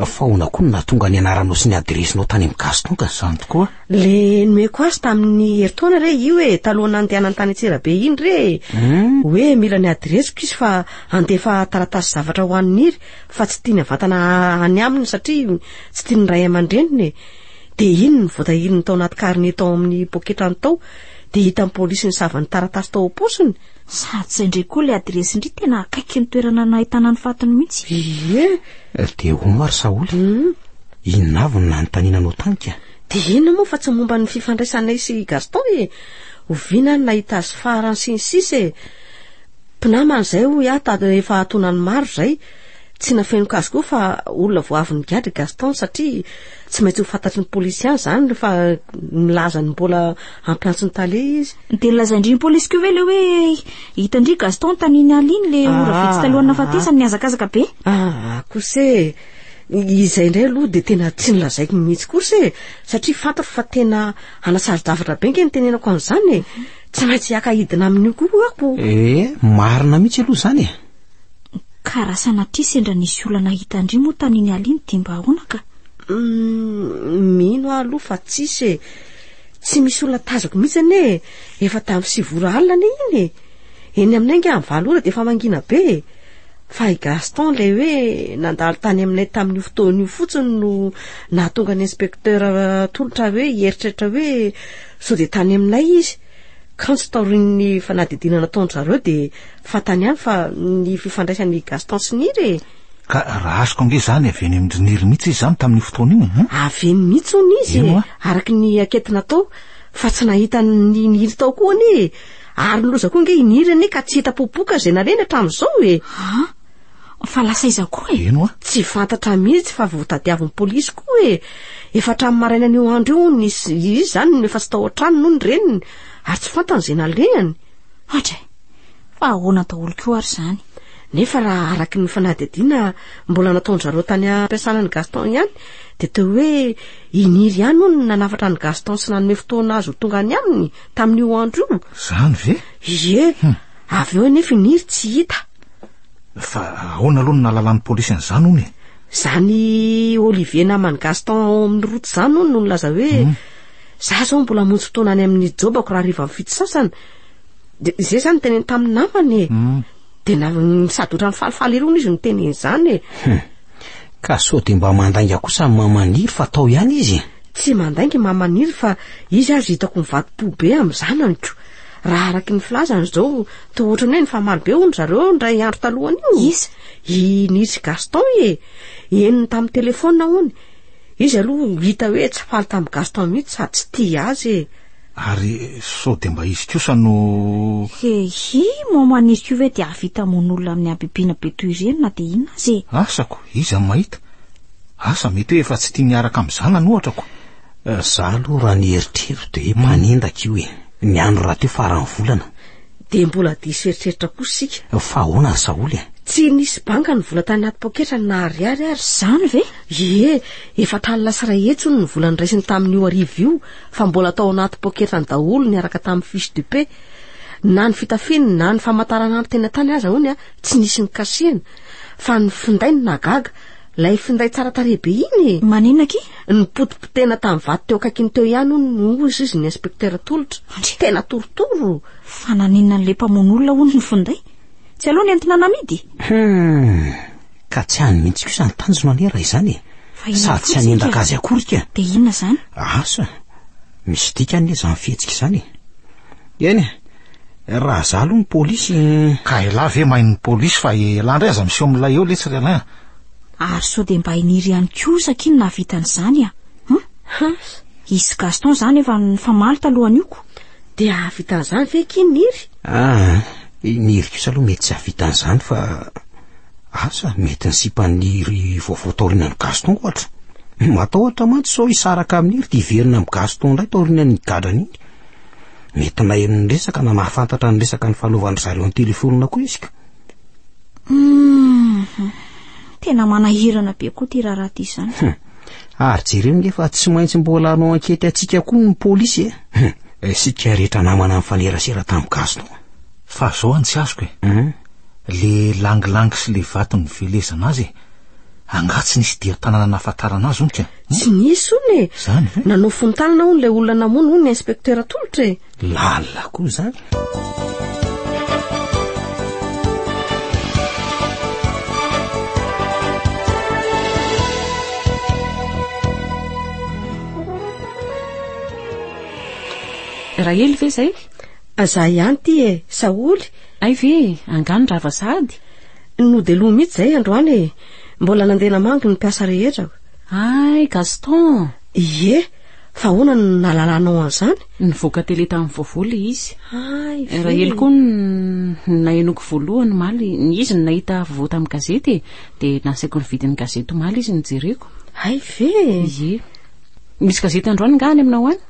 Faona koa no nahatonga ny anaranao sy ny adiresinao tany amin'ny gasy tonka. Zany tokoa. Le nomeko azy tamin'ny herintaona re io e, talohan'ny nandehanany tany Antsirabe iny re. Hmm. Hoe mila ny adiresiko izy fa handefa taratasy zavatra ho an'i Niry fa tsy tiany avantana any aminy satria tsy tian'ny ray aman-dreniny e. De iny ny voatahiriny tao anaty carnet tao amin'ny poketrany tao de hitan'ny polisy ny savan'ny taratasy tao am-paosiny Sady izay indray koa ilay adiresin-dry tena akaiky ny toerana nahitana ny fatiny mihitsy. Ie! Dia hono ary Saoly, hmm? inona avy no nanontaniananao tany ka? Dia inona moa fa tsy momba ny fifandraisanay sy i Gaston e! Oviana no nahita azy farany sy ny sisa e! Mpinamana izay hoy aho ta efa atonany maro izay. Tsy nafenoka azy koa fa olona vao avy nigadra i Gaston satria tsy maintsy ho fantatry ny polisy ihany izany fa milaza ny mbola ampiantso ny tale izy dia nolazain-dry ny polisy koa ve le hoe hitan-dry gaston taniny aliny le ora ah, vitsy talohan'ny nafatesany ah. nihazakazaka be ah kosa e izay indray aloha dia tena tsy nilazaiko mihitsy kosa e satria fantako fa tena anasaro-javatra be nge ny tenenako an'izany e tsy maintsy haka hidina amin'io koa ako e marina mihitsy aloha izany e ka raha sanatria sendra nisy olana hitan-dry moa taniny aliny dia mba ahoana ka mm, mino aho aloha fa tsisy e Tsy misy olona tazako mihitsy anie e! Efa tamin'ny sivy ora alina anie iny e! Eny aminay ange amin'ny valo ora dia efa mangina be e! Fa i Gaston ilay hoe nandalo tany aminay tamin'io fotoana io fotsiny no nahatonga ny inspecteur tolotra hoe hieritreritra hoe sao dia tany aminay izy. Kanjo taorian'ny fanadihadiana nataon-dry zareo dia fantany ihany fa ny fifandraisan'i Gaston sy Nirina e! Ka raha azoko ange izany avy eny amin-dry Nirina mihitsy izy izany tamin'io fotoana io an! Avy eny mihitsy hono izy e! araka ny ankety natao, fa tsy nahita an'i Niry tao koa anie e! ary niloza koa ange i Niry anie ka tsy hita popoka izay naleny hatramin'izao e! An! fa lasa aiza koa e? Eny hoa! Tsy fantatra mihitsy fa vao tadiavin'ny polisy koa e! efa hatramin'ny marainan'io andro io hono izy izany no efa tsy tao an-tranony hono ny reniny ary tsy fantany izay nalehany. Atra e! Fa ahoana daholo koa ary izany? Nefa raha araky ny fanadihadiana mbola nataon-dry zareo tany am-piasana an'i Gaston ihany dia toy hoe i Niry ihany hono no nanafatra an'i Gaston sy nanome fotoana azy ho tonga any aminy tamin'io andro io. Izany ve? Ie, hmm. avy eo anefa i Niry tsy hita. Fa ahoana aloha no nahalalan'ny polisy an'izany hono e? Izany Olivier naman'i Gaston ao amin'ny route izany hono no nilaza hoe hmm. Za zao mbola hamonjy fotoana any amin'ny jobako raha hariva fito sasany. De izay zany teneny tamin'ny namany e. Hmm. De na sady otrany falifaly irony izy no teneny izany e. Hmm. Ka sao de mba mandainga kosa ny mamaniry fa tao ihany izy e. Tsy mandainga i mamaniry fa izy azy hitako mivadi-po be amin'ny zananiko. Raha araky ny filazany izao toa ohatrany hoe nifamaly be hono zareo indray andro talohan'io. Iza? I Nisy Gaston e. Henony tamin'ny telefaonina hono. Izy aloha hita hoe tsy faly tamin'i Gaston mihitsy sady tsy tia azy e. Ary sao dia mba izy kosa no. He hi, maman izy koa ve dia hahavita hamono olona amin'ny habibiana be toy ireny na dia inona aza e. Asako, iza no mahita? Asa mety hoe efa tsy tia miaraka amin'ny zanany ohatra ko. Za aloha raha ny eritrerito dia manindaky io e. Ny andro rahateo faran'ny volana. Dia mbola diso eritreritra kosa isika. Fa ahoana ry Saholy e? Tsy nisy banga ny vola tany anaty poketrany na ariary ary. Izany ve? Ie, efa tany lasa iray hetsy hono ny vola niraisiny tamin'io arivo io fa mbola tao anaty poketrany daholo niaraka tamin'ny fiche de paie. Na ny fitafiany na ny famantaranandro teny an-tany aza hono tsy nisy nikasihina. Fa ny finday no nahagaga. Ilay finday tsara tarehy be iny e! Maninona aky? Nipotipotehina tamin'ny vato teo akaikiny teo ihany hono, hozy izy ny inspektera tolotra. Andry! Tena torotoro! Fa naninona an'ilay mpamono olona hono ny finday? Tsy aleo nentina namidy? Hum! Ka tsy any mihitsy kosa ny tanjona anie raha izany e! Sady tsy hanendaka azy akory ka! Dia inona izany? Asa! Misy dikany anie izany fihetsika izany e! Eny e! Raha za aloha ny polisy eh. Ka elah ve main ny polisy fa elah ndray aza miseho milay eo letsy ry Alain a. Ary sao dia mba hiniry ihany koa sa kin nahavita an'izany a. Hum. I sy Gaston za nefa nifamaly talohan'io ko. Dia hahavita an'izany ve kin niry? Ah, niry kosa aloha mety tsy hahavita an'izany fa asa mety ny sipan'iry vaovao taorianan'i Gaston ohatra. Matahotra mantsy sao hisaraka amin'iry dia hiverina amin'i Gaston indray taorianan'iny gadrana iny. Mety naheno ny resaka na nahafantatra ny resaka ny fanaovan-dry zareo ny telefonina koa izy ka. Hum, tena manahirana be koa ity raharaha ity izany. Hum. Ary jereo nge fa tsy maintsy mbola hanao ankety antsika koa ny polisy e. Hum. Isika rehetra namana nifanerasera tamin'ny gasy tao. Fa zao any tsy azoko e. Hum. Le langilangy sy le vato nivelezana azy e. Angaha tsy nisy dian-tanana nahafantarana azy hono ka? Tsy nisy hono e! Izany ve? Nanao fontanana hono ilay olona namono hono ny inspektera tolotra e! Lalina koa izany! Rahely ve izay? Za ihany ity e, Saholy. Hay ve, angaha ny rava sahady? Nodeloha mihitsy izay androany e. Mbola nandeha namangy ny mpiasa rehetra. Ay, Gaston! Ie, fa ahoana no nahalalanao an'izany? Nivoaka tele tamin'ny vaovao ilay izy. Ay, ve? Rahely koa no nahenoko voalohany omaly. Izy no nahita vaovao tamin'ny gazety e. Dia nasaiko nividy ny gazety omaly izy nojereko. Ay, ve? Ie. Misy gazety androany nga any aminao any?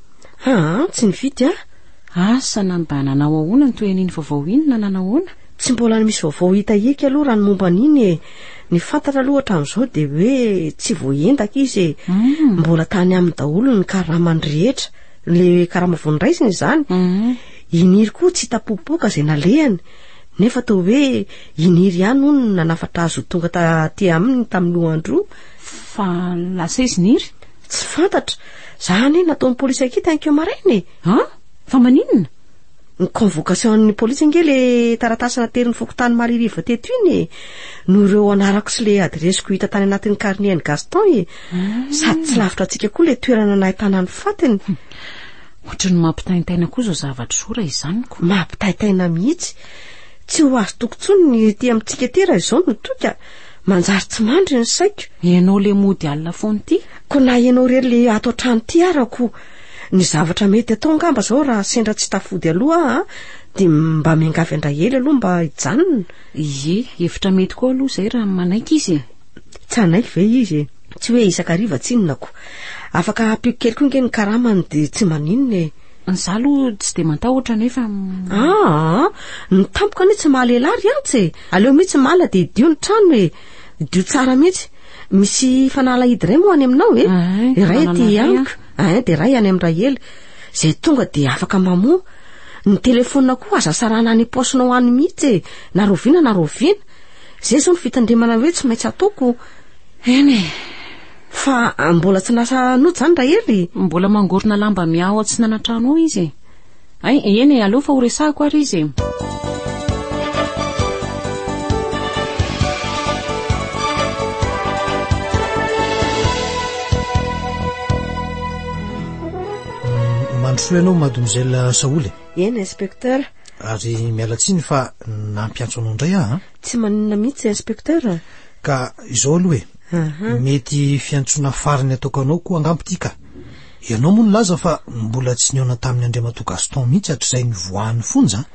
Aa, tsy nividy aho. Asa na mba nanao ahoana ny toy an'iny vaovao iny na nanao ahoana? Tsy mbola misy vaovao hita hiaka aloha raha ny momba an'iny e. Ny fantatra aloha hatramin'izao dia hoe tsy voaendaka izy e. Mm. Mbola tany aminy daholo ny karamany rehetra. Le karama vao niraisiny izany. Mm. Iniry koa tsy hita popoka izay nalehany. Nefa toa hoe iniry ihany hono no nanafatra azy ho tonga taty aminy tamin'ny lohandro. Fa lasa izy niry? Tsy fantatra. Za anie nataon'ny polisy ankita ankeo maraina e. Ah? Fa maninona? ny convocation ny polisy ange le taratasy naterin'ny fokontany Maririva teto iny e no ireo anarako sy le adiresiko hita tany anatin'ny carnet ny Gaston e hmm. sady tsy lavitra antsika koa le toerana nahitana ny fatiny hmm. ohatry ny mampitaintaina koa zao zavatra zora izany ko mampitaitaina mihitsy tsy ho azo tokontsony ny ety amintsika ety raha izao no toika manjary tsy mandry ny saiko ianao le mody alina foana ity ko na ianao rery le ato an-trano ity arako Ny zavatra mety atao angamba zao raha sendra tsy tafody aloha aho dia mba miangavy an-dRaely aloha mba hijanona. Ie, hevitra mety koa aloha izay raha manaiky izy e. Tsy hanaiky ve izy e? Tsy hoe isan-kariva tsinonako. Afaka hampiako kely koa nge ny karamany dia tsy maninona e. Izaho aloha tsy dia mantahotra nefa... Ah, ny tampoka anie tsy maha-lehilahy ry Ants e. Aleo mihitsy malina dia hidio ny trano e. Dio tsara mihitsy. Misy fanalahidy iray moa any aminao e. Iray aty amiko, ah dia iray any amin'ndray hely. Izay tonga dia afaka mamoa. Ny telefonina koa aza sarana any paosinao any mihitsy e. Na roviana na roviana. Izay izao ny fitandremana hoe tsy maintsy ataoko. Eny e. Fa ah, mbola tsy nasa nojo izany Rahely? Mbola mangorona lamba miaho ao atsinanantrano ao izy e. Hay, eny e, aleo fa horesahako ary izy e! Mandrosoa ianao mademoiselle Saholy. Eny inspecteur. Ary miala tsiny fa nampiantso anao indray aho an. Tsy maninona mihitsy inspecteur. Ka izao aloha e. Mety fiantsoana farany ataoko anao koa angamba ity ka. Ianao moa nilaza fa mbola tsy nihaona tamin'i Andriamatoa Gaston mihitsy hatrizay nivoahan'ny fonja an?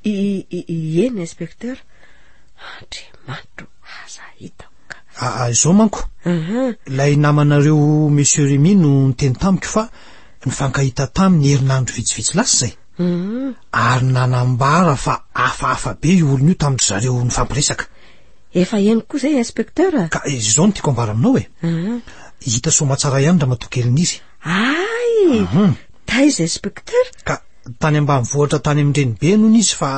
Ieny inspecteur, Andriamanitro aza hitako ka. Aa izao manko, ilay namanareo Monsieur Remy no niteny tamiko fa nifankahita taminy herinandro vitsivitsy lasa izay, ary nanambara fa hafahafa be io olona io tamin-dry zareo nifampiresaka. Efa henoko izay inspecteur a. Ka izao no tiako ambara aminao e. Hita soamatsara ihany ramatoa kelin'ny izy. Ay! Taiza inspecteur? Ka tany ambanivohitra tany amin'ny renibeny hono izy fa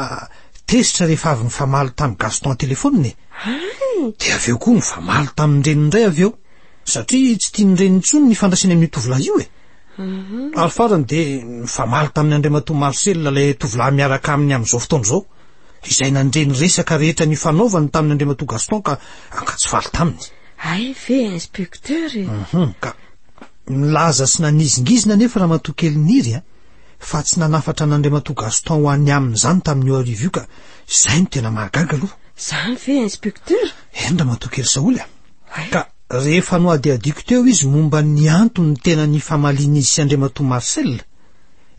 tezitra rehefa avy nifamaly tamin'i Gaston an-telefaonina e. Ay! Dia avy eo koa nifamaly tamin'ny reniny indray avy eo satria tsy tian'ny reniny intsony ny ifandraisany amin'io tovolahy io e. Ary farany dia nifamaly tamin'ny Andriamatoa Marcel ilay tovolahy miaraka aminy amin'izao fotoana izao. izay nandre ny resaka rehetra nifanaovany tamin' Andriamatoa Gaston ka ankatsy faly taminy. Hay ve Inspecteur e! Uhum, ka nilaza sy nanizingizina anefa Ramatoa kely Niry a, fa tsy nanafatra an' Andriamatoa Gaston ho any aminy izany tamin' io arivo io ka izay no tena mahagaga aloha. Izany ve Inspecteur? Eny Ramatoa kely Saholy a! Hay. Ka rehefa nohadihadiako teo izy momba ny antony tena nifamalian' izy sy Andriamatoa Marcel,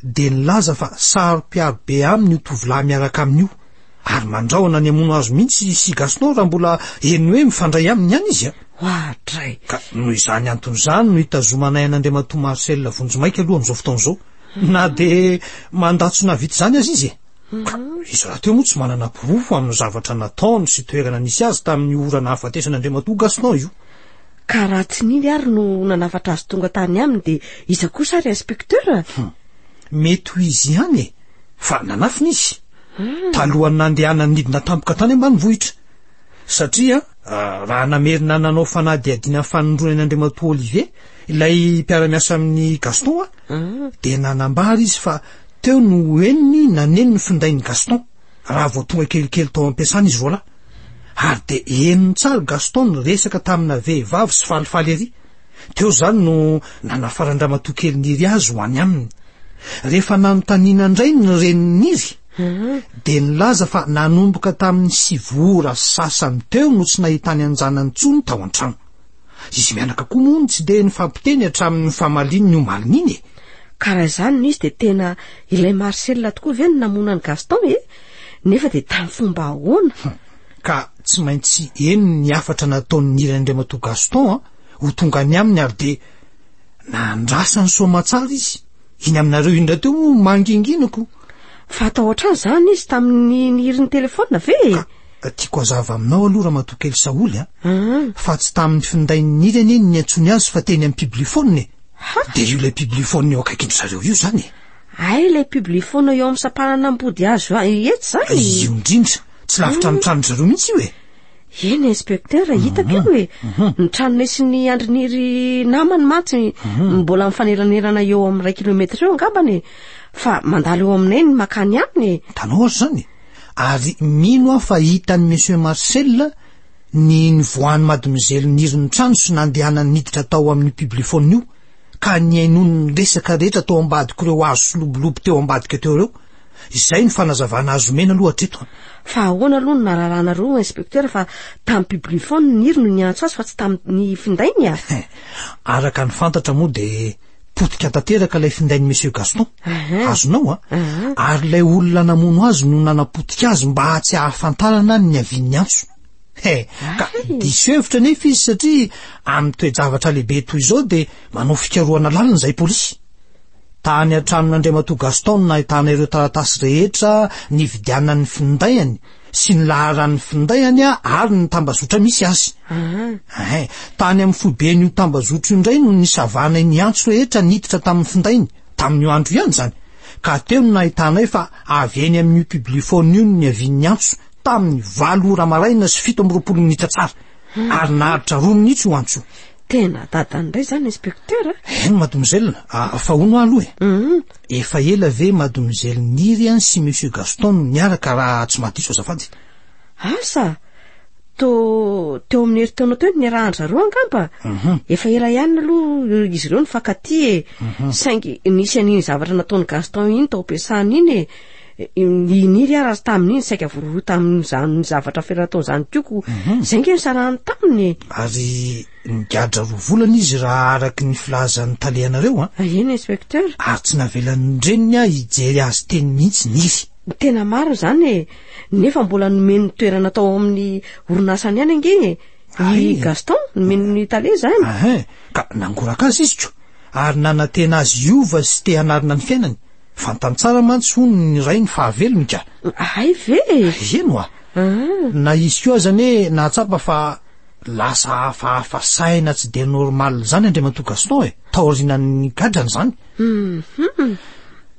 dia nilaza fa saro-piaro be aminy io tovolahy miaraka aminy io, ary mandrahona ny hamono azy mihitsy i Sigasno raha mbola heno hoe mifandray aminy ihany izy a! Oadray! Ka noho izany antony izany no hitazomanay an'Andriamatoa Marcel vonjimaika aloha amin'izao fotoana izao, na dia mandà tsy nahavita izany aza izy e! Ka izy rahateo moa tsy manana porofo amin'ny zavatra nataony sy toerana nisy azy tamin'io ora nahafatesan'Andriamatoa Gaston io. Ka raha tsy Nini ary no nanafatra azy tonga tany aminy dia iza kosa ary inspecteur? Hum. Mety ho izy ihany e. Fa nanafina izy. Hmm. Talohan'ny nandehanany nidina tampoka tany ambanivohitra. Satria ah, raha namerina nanao fanadihadiana fanindroany an'Andriamatoa Olivier, ilay mpiara-miasa amin'i Gaston ah, hmm. dia nanambara izy fa teo no henony naneno ny findain'i Gaston. raha vao tonga kelikely tao am-piasana izy roalahy, ary dia henony tsara i Gaston niresaka tamina vehivavy sy falifaly ery. Teo izany no nanafaran-dramatoa kely Niry azy ho any aminy. Rehefa nanontaniana indray ny renin'i Niry, dia nilaza fa nanomboka tamin'ny sivy ora sasany teo no tsy nahitany an-janany intsony tao an-trano. Izy mianaka koa moa no tsy dia nifampiteny hatramin'ny famalian'ny omaly iny e! Ka raha izany no izy dia tena ilay Marcel tokoa ve no namono an'i Gaston e? Nefa dia tamin'ny fomba ahoana? Hum, ka tsy maintsy eny ny hafatra nataon'ny nirain'Andriamatoa Gaston an, ho tonga any aminy ary dia nandrasany soamatsara izy. iny aminareo iny rahateo moa manginginiko fa atahotra azy zany izy tamin'ny nihirin'ny telefona ve e ah, ah, tiako hazava aminao aloha raha matokely saholy a ah. fa tsy tamin'ny findain'ny niry anie ny antsony azy fa teny amin'ny publifona e dia io ilay publifona eo akaiky ny zareo io zany e ay ilay publifona eo amin'ny sampanana ambody azo etsy zany io indrindra tsy lavitra ny tranony zareo mihitsy io e Eny inspecteur hitako io e. Ny tranonay sy ny andrin'iry namany mantsy mbola mifanelanerana eo amin'ny iray kilometatra eo angambany e. Fa mandalo eo aminay ny makany aminy e. Tanora izany e. Ary mino aho fa hitan'i Monsieur Marcel ny nivoahan'i Madmzely niry ny trano sy nandehanany niditra tao amin'ny publiphone io ka nihainoany ny resaka rehetra tao ambadik'ireo hazo sy lobolobo teo ambadika teo ireo. Izay no fanazavana azo omena aloha hatreto an! Fa ahoana aloha no nararahanareo inspecteur fa tamin'ny publiphone ny Niry no niantso azy fa tsy tamin'ny finday ny a? Araka ny fantatra moa dia potika tanteraka ilay findain'i Monsieur Gaston. Azonao an! Ary ilay olona namono azy no nanapotika azy mba tsy hahafantarana ny niavian'ny antso. He, ka diso hevitra anefa izy satria amin'ny toe-javatra lehibe toy izao dia manao fikarohana lalina izay polisy. Tany an-tranon'Andriamatoa Gaston no nahitana ireo taratasy rehetra nividianan'ny findainy sy ny laharan'ny findainy ary ny tambazotra misy azy. Ahy. Tany amin'ny foiben'io tambazotro io indray no nisavanay ny antso rehetra niditra tamin'ny findainy, tamin'io andro io ihany izany, ka teo no nahitanay fa avy eny amin'io publiphone io no niavian'ny antso, tamin'ny valo ora maraina sy fito amby roapolo minitra tsara. ary naharitra roa minitsy ho antso tena dadany indray zany inspecteur a eh? eny madomizelina ah, fa hono ah, aloha e eh? mhm. efa ela ve madomizeliniry any sy monsieur gaston no niaraka raha tsy madiso azafady asa to teo amin'ny heritaonao teo ny rahandry zareo angamba mhm. efa ela ihany aloha izy ireo ny fakaty e mhm. saingy nisy an'iny zavatra nataon'ny gaston iny tao am-piasana iny e Niniry aho raha tamin'iny saika voarohirohy tamin'izany zavatra fera nataony izany koa ko mhm. izay nge nisarahany taminy e. ary nigadra roa volana izy raha araky ny filazan'ny tale anareo a ah. eny inspecteur ary tsy navelan'ny reniny aho hijery azy teny mihitsy niry tena maro izany e nefa mbola nomeny toerana tao amin'ny orinasany ihany ange e i gaston nomeny ny tale izany ahe ka nangoraka azy izy ko ary nanantena azy iova sy te hanarina ny fiainany Fantany tsara mantsy hono ny rainy fa havelony ka. Hay ve e! Eny hoa. Na izy koa aza anie nahatsapa fa lasa hafahafa saina tsy dia normal izany Andriamatoa Gaston e, taorianan'ny gadrany izany.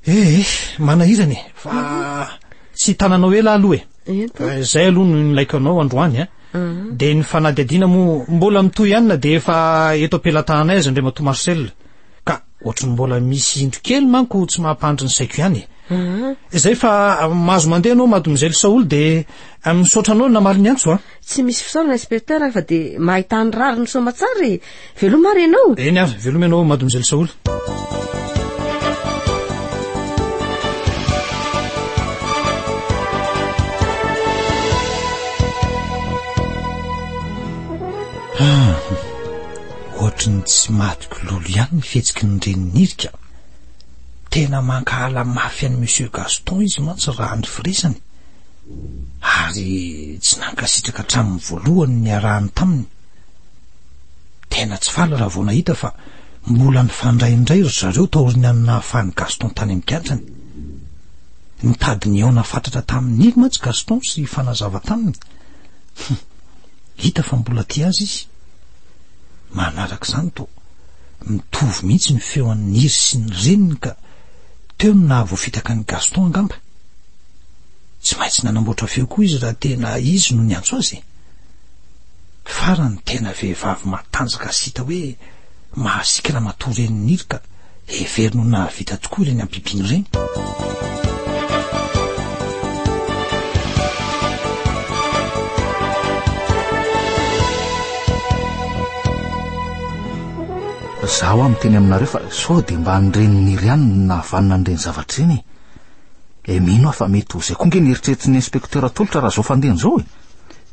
Ee, manahirana e, fa tsy hitananao ela aho aloha e. Izay aloha no nilaiko anao androany a. Dia ny fanadihadiana moa mbola mitohy ihany na dia efa eto am-pelatananay aza Andriamatoa Marcel. Ka ohatry ny mbola misy indro kely manko tsy mampandry ny saiko ihany e. Izay fa mahazo mandeha anao mademoiselle Saoly dia misaotra anao namaly ny antso a. Tsy misy fisaorana inspecteur fa dia mahay tany rariny soma tsara e. Veloma ary ianao. Eny ary, veloma ianao mademoiselle Saoly. Ah. Ohatry ny tsy madiko lolo ihany ny fihetsiky ny renin'i Nirika. Tena mankahala mafy an'i Monsieur Gaston izy mantsy raha ny firesany, ary tsy nankasitraka hatramin'ny voalohany ny niarahany taminy. Tena tsy faly raha vao nahita fa mbola nifandray indray ry zareo taorian'ny an'ny nahafahan'i Gaston tany amin'ny kiantrany. Nitady nihaona fatratra tamin'i Niry mantsy Gaston sy hifanazava taminy. Hum. Hita fa mbola tia azy izy. Manaraka izany toa mitovy mihitsy ny feo an'i Niry sy ny reniny ka teo no nahavoafitaka an'i Gaston angamba. Tsy maintsy nanamboatra feo koa izy raha tena izy no niantso azy e. Farany tena vehivavy matanjaka sy hita hoe mahasiaka ramatoa reniny Niry ka Heveriny ho nahavita tokoa ireny ampimpino ireny. zaho amin'ny teny aminareo fa sao dia mba nireniny iry ihany ny nahavanina an'ireny zavatra ireny e. Eh, mino aho fa mety ho izay koa nge ny eritreritry ny inspektera tolotra raha izao fandeha an'izao e.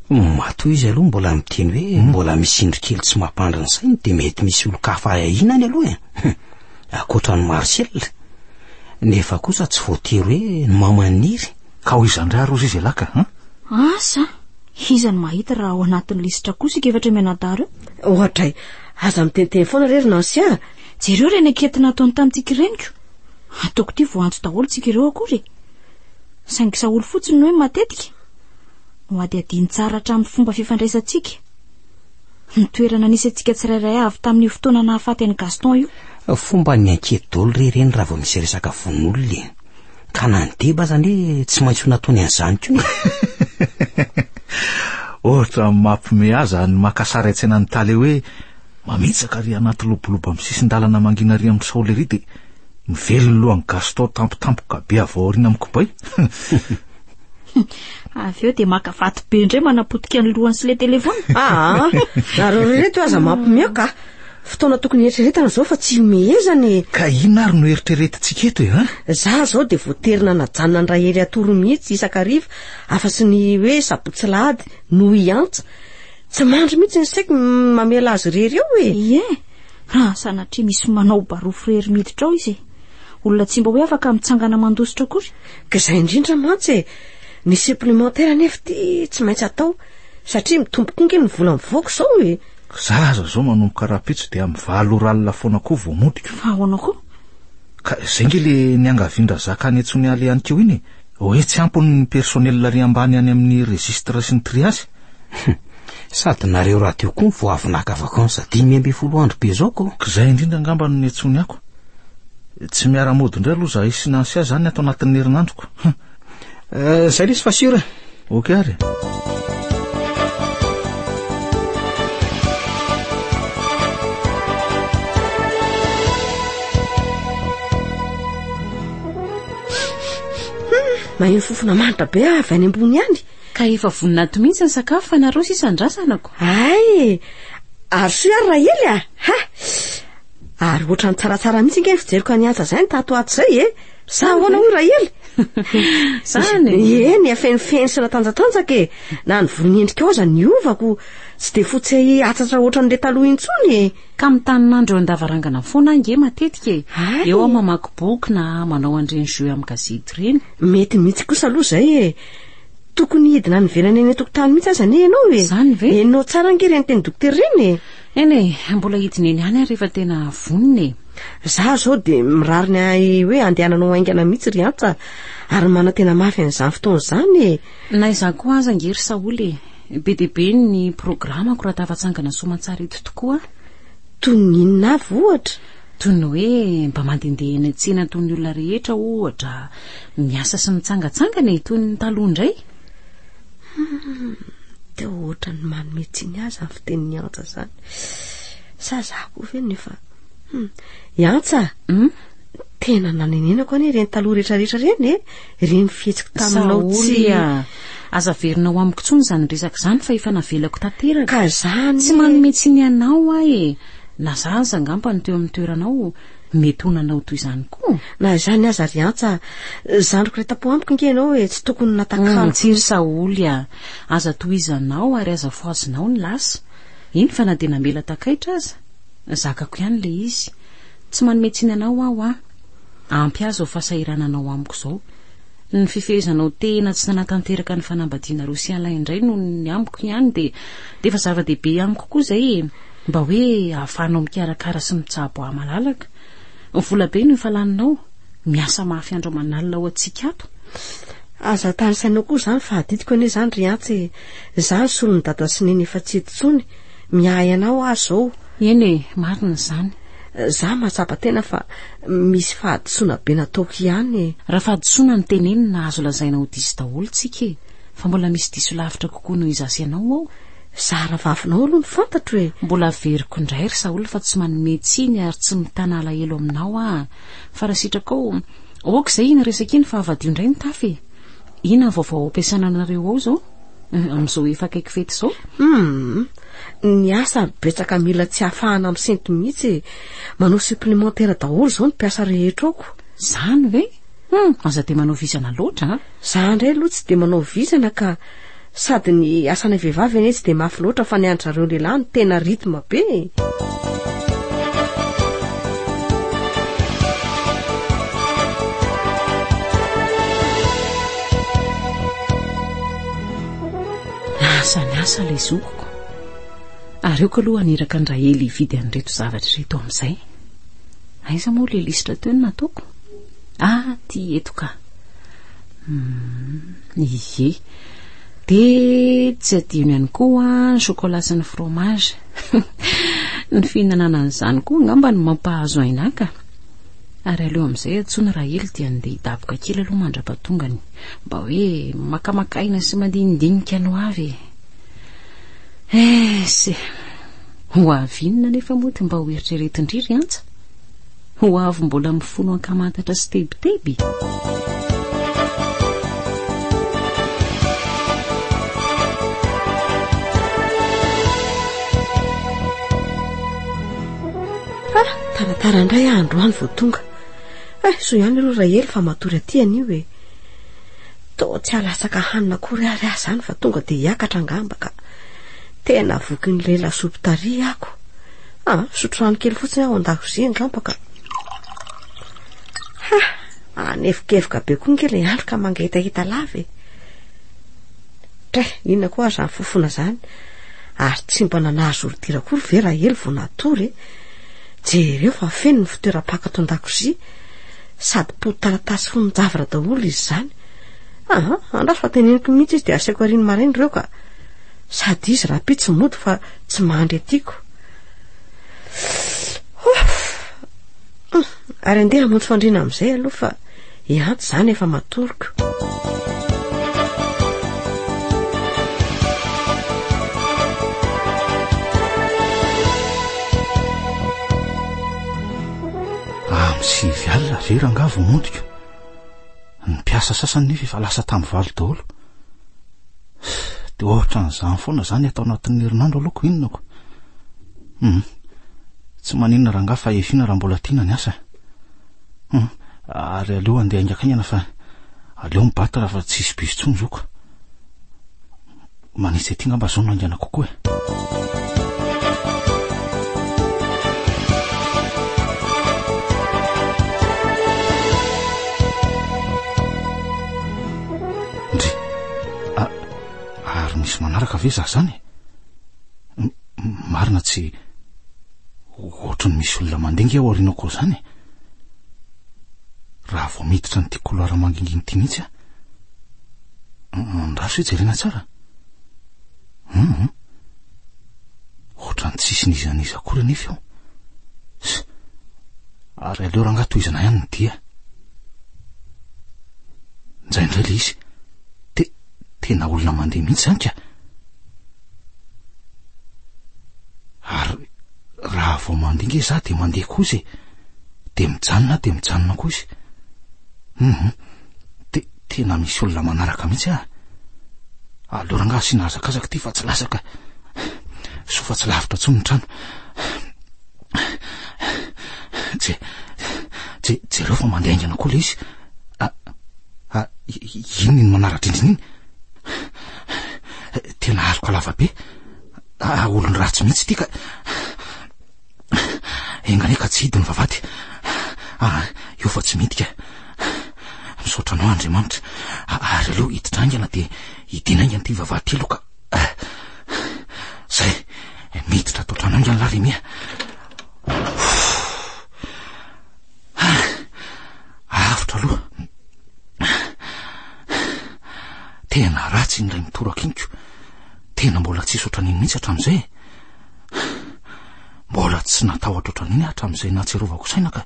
Matoa izy aloha mbola miteny hoe hmm. mbola misy indry kely tsy mampandry ny sainy dia mety misy olon-kafa ahiahiana any aloha e hmm. akoatra ny marcel nefa kosa tsy voatery hoe ny mamaniry ka ho izan-dra rozy izy elaka an hmm? asa iza ny mahita raha ao anatin'ny lisitra kosa ika efatra mianadaro eo ohatray aza mitenteny foana rery nansia jereo reny anketina ataony tamintsika reniko ataoko ity voantso daholo tsika ireo akory e. saingy saolo fotsiny ny hoe matetika Nohadihadiany tsara hatramin'ny fomba fifandraisantsika ny toerana nisy antsika tsirairay avy tamin'io fotoana nahafaty an'i Gaston io. Fomba ny ankiety dolo re ireny raha vao misy resaka vononolona e. Ka na ny deba aza anie tsy maintsy ho nataony an'izany koa e. Ohatra mampme ahy izany maka sary an-tsaina ny tale hoe mamitsaka ary anaty lobolobo amin'ny sisin-dalana mangina ary amin'ny saole ary dia mivelona ny lohan'i Gaston tampotampoka be avy ao aoriana amin'ny kibay. Avy eo dia maka vato be indray manapotika ny lohany sy ilay telefaona. Ah, nareo reto aza mampimioka. Fotoana tokony eritreretana izao fa tsy himehezana e. Ka inona ary no eritreretintsika eto e? Ha? Za zao dia voatery nanajanona ndray hery atoro mihitsy isakariva afa sy ny hoe sabotsy lahady no hiantsa. Tsy mandry mihitsy ny saiko mamela azy irery eo e. Ie, raha sanatria misy manao barofo irery miditra ao izy e. Olona tsy mba hoe afaka mitsangana mandositra akory. Ka izay indrindra mantsy e! Ny supplémentaire anefa ity tsy maintsy atao satria mitombo koa nge ny vola mivoaka izao e! Za aza zao manomboka rapitso dia mivalo oral foana koa vao modiko. Fa ahoana koa? Ka izay nge le niangavian-drazaka any Tsonialy any keo iny e! Hoe tsy ampy ny personnel ary ambany any amin'ny registre sy ny triage? Sady nareo radio koa vao avy naka vacances dimy ambin'ny folo andro be zao ko. K'izay indrindra angamba no niantsoany ako. Tsy miara-mody indray aloha zahay sy Nancy aza any ato anatin'ny herinandro ko. Hum. Zay lesy fa sûr. Ok ary. maheno fofona manitra be ah, avy any ambony any ka efa voninato mihitsy ny sakafo fa nareo sisa andrasanako ay ary soa ary rahely a ah. ha ary ohatrany tsaratsara mihitsy nge ny fijeriko any antsa izay ny tato ato izay e eh. Sa ahoana hoy Rahely? Zany e. Eny, afenifeny sy natanjatanjaka e. Na ny volon'ny endrikao aza niovako. Tsy dia fotsy atsatra ohatran'ilay taloha intsony e. Ka mitanin'andro eo an-davarangana foana aho nge matetika e. Ary? Eo aho mamaky boky na manao an'ireny jeux amin'ny gazety ireny. Mety mihitsy kosa aloha izay e. Tokony hidina any ivelany any an-tokotany mihitsy aza anie ianao e. Izany ve? Henonao tsara ange ireny teny dokotera ireny e. Eny e, mbola hidina eny ihany aho rehefa tena vonona e. Za zao de mirary ny ahy hoe andehananao haingana mihitsy ry Antsa ary manantena mafy an'izany fotoana izany e. Na izaho koa aza ange ry Saholy e, be dia be ny programako raha tafatsangana soamantsara eto tokoa aho. Toy ny inona avy ohatra? Toy ny hoe mba mandehandeha eny an-tsena toy ny olona rehetra ohatra, miasa sy mitsangatsangana e, toy ny taloha indray. Hum, te ohatran'ny manome tsiny ahy zany fitenin'i Antsa zany. Sa za koa ve no efa hum. I Antsa, hum, tena nanenenako anie ireny taloha rehetra rehetra ireny e, ireny fihetsiko taminao tsy aza averina ao amiko intsony izany resaka izany fa efa navelako tanteraka. Ka izany. Tsy manome tsiny anao aho e. Na za aza angamba no teo amin'ny toeranao, mety ho nanao toy izany koa na izany aza ry antsa zandriko re tapo amiko nge ianao hoe tsy tokony natakalo mm, tsiry saoly a aza tohizanao ary aza foazinao ny lasa iny fa na dia namela takaitra aza zakako ihany le izy tsy manome tsiny anao aho a ampy azy ao fahasahirananao amiko izao ny fifehezanao tena tsy nanatanteraka ny fanambadiana rosialahy indray noho ny amiko ihany dia dia efa zava-dehibe amiko koa izay e Mba hoe ahafahanao mikarakara sy mitsabo ahy malalaka. Vola be no efa laninao. Miasa mafy andro aman'alina ho antsika ato. Aza atary saina koa izany fa adidiko anie izany ry Antsa e. Izaho ny solon'i Dada sy Neny efa tsy eto intsony. Miahy anao aho izao. Eny e, marina izany. Izaho mahatsapa tena fa misy fahadisoana be nataoko ihany e. Raha fahadisoana no tenenina azo lazaina ho diso daholo tsika e. Fa mbola misy diso lavitra kokoa noho izaho sy ianao ao. Zara vavinao aloha ny fantatro e. Mbola averiko indray ry Saoly fa tsy manome tsiny ary tsy mitana alahelo aminao aho. Fa raha sitrakao, ok izay iny resaka iny fa havadio indray ny tafy e. Inona ny vaovao ampiasana anareo ao izao? Eh, amin'izao efa akaiky fety izao? Hmm, ny asa betsaka mila tsy hafahana misento mihitsy e. Manao supplémentaire daholo izao ny mpiasa rehetra ao ko. Zany ve? Hmm, aza dia manao vizana loatra a. Za indray aloha tsy dia manao vizana ka. Sady ny asanay vehivavy anie tsy dia mafy loatra fa ny an-dry zareo lehilahy no tena rythme be e! Lasa niasa ilay zokiko. Aleoko aloha haniraka an-dRahely hividy an'ireto zavatra ireto amin'izay. Aiza moa ilay lisitra teo no nataoko? Ah, ity eto ka. Ie. Dia tsy adino ihany koa ny chocolat sy ny fromage. Ny fihinanana an'izany koa angamba no mampahazo aina ka. Ary aleo amin'izay antsoina Rahely dia andeha hidaboka kely aloha mandra-pahatongany. Mba hoe makamaka aina sy mandinidinika ny ho avy e. Eh, se. Ho avy inona anefa moa ity mba hoeritreretin-dry ry Antsa? Ho avy mbola mifono ankamantatra sy tebiteby. Ah, taratara indray ah androany vao tonga. Eh, so ihany aloha Rahely fa matory aty anio e. Toa tsy alatsaka hanina akory ary ah zany fa tonga dia hiakatra angamba ka. Tena vokin'ny lela soupy tary ako. Ah, misotro rano kely fotsiny aho ao an-dakozia angamba ka. Ha! Manevokevoka be koa ange ilay andro ka mangetaheta lava e. Tre, inona koa ary izany fofona izany? Ary tsy mba nanazo ordira akory ve raha ely vao natory e? Jereo fa feno ny fitoeram-pako ato an-dakozia. Sady po taratasy fonon-javatra daholo izy izany. Ah, andraso fa teneniko mihitsy izy dia asaiko ariny maraina ireo ka. Sady izy rahampitso mody fa tsy mandry atiako. Ary andeha hamonjy fandriana amin'izay aloha fa ehanty izany efa matoriko. sivy alina ve rangah vao mondiko ny mpiasa sasany nefa efa lasa tamin'ny valo daholo Dia ohatran'izany foana izany ato anatin'ny herinandro aloha ko inona ko. Hum. Tsy maninona rangaha fa efiana raha mbola tiana ny asa. Hum. Ary aleo andeha haingakaingana fa aleo mibata raha fa tsisy bus tsony zoka. Manitsy aty ngamba zao no haingana kokoa e. Ndry! A, ary misy manaraka ve za zany? Marina tsy ohatry ny misy olona mandeha nge ao aorianako ao zany e. Raha vao miditra ny tia couloir manginginy tia mihitsy a. Andraso e jerena tsara. Hum, ohatran'ny tsisy niza niza akory anefa eo. Ary aleo rangahy tohizana ihany ny dia. Nizay indray le izy. Te, tena olona mandeha mihitsy zany ka. Ary raha vao mandeha nge za de mandeha koa izy e. De mijanona de mijanona koa izy. Mhm. Te, tena misy olona manaraka mihitsy ah. Aleo rangaha asiana hazakazaka ity fa tsy latsaka. Soa fa tsy lavitra intsony ny trano. Je- je- jereo fa mandeha aingana koa ilay izy a- a- i- i- inona iny manara-drindrina iny tena aloka lava be a- a- olon'ny ratsy mihitsy ity ka engane ka tsy hidiny vavady a- eo fa tsy mety ka misaotra anao andriamanitra A- ary aleo hiditra aingana dia hidina aingana ity vavady ity aloha ka Zay, miditra ato an-trano haingana la Remia. Avotra aloha. Tena ratsy indray mitoraka iniko. Tena mbola tsy isotra an'iny mihitsy hatramin'izay. Mbola tsy natahotra ohatran'iny hatramin'izay nahatsiarovako saina ka.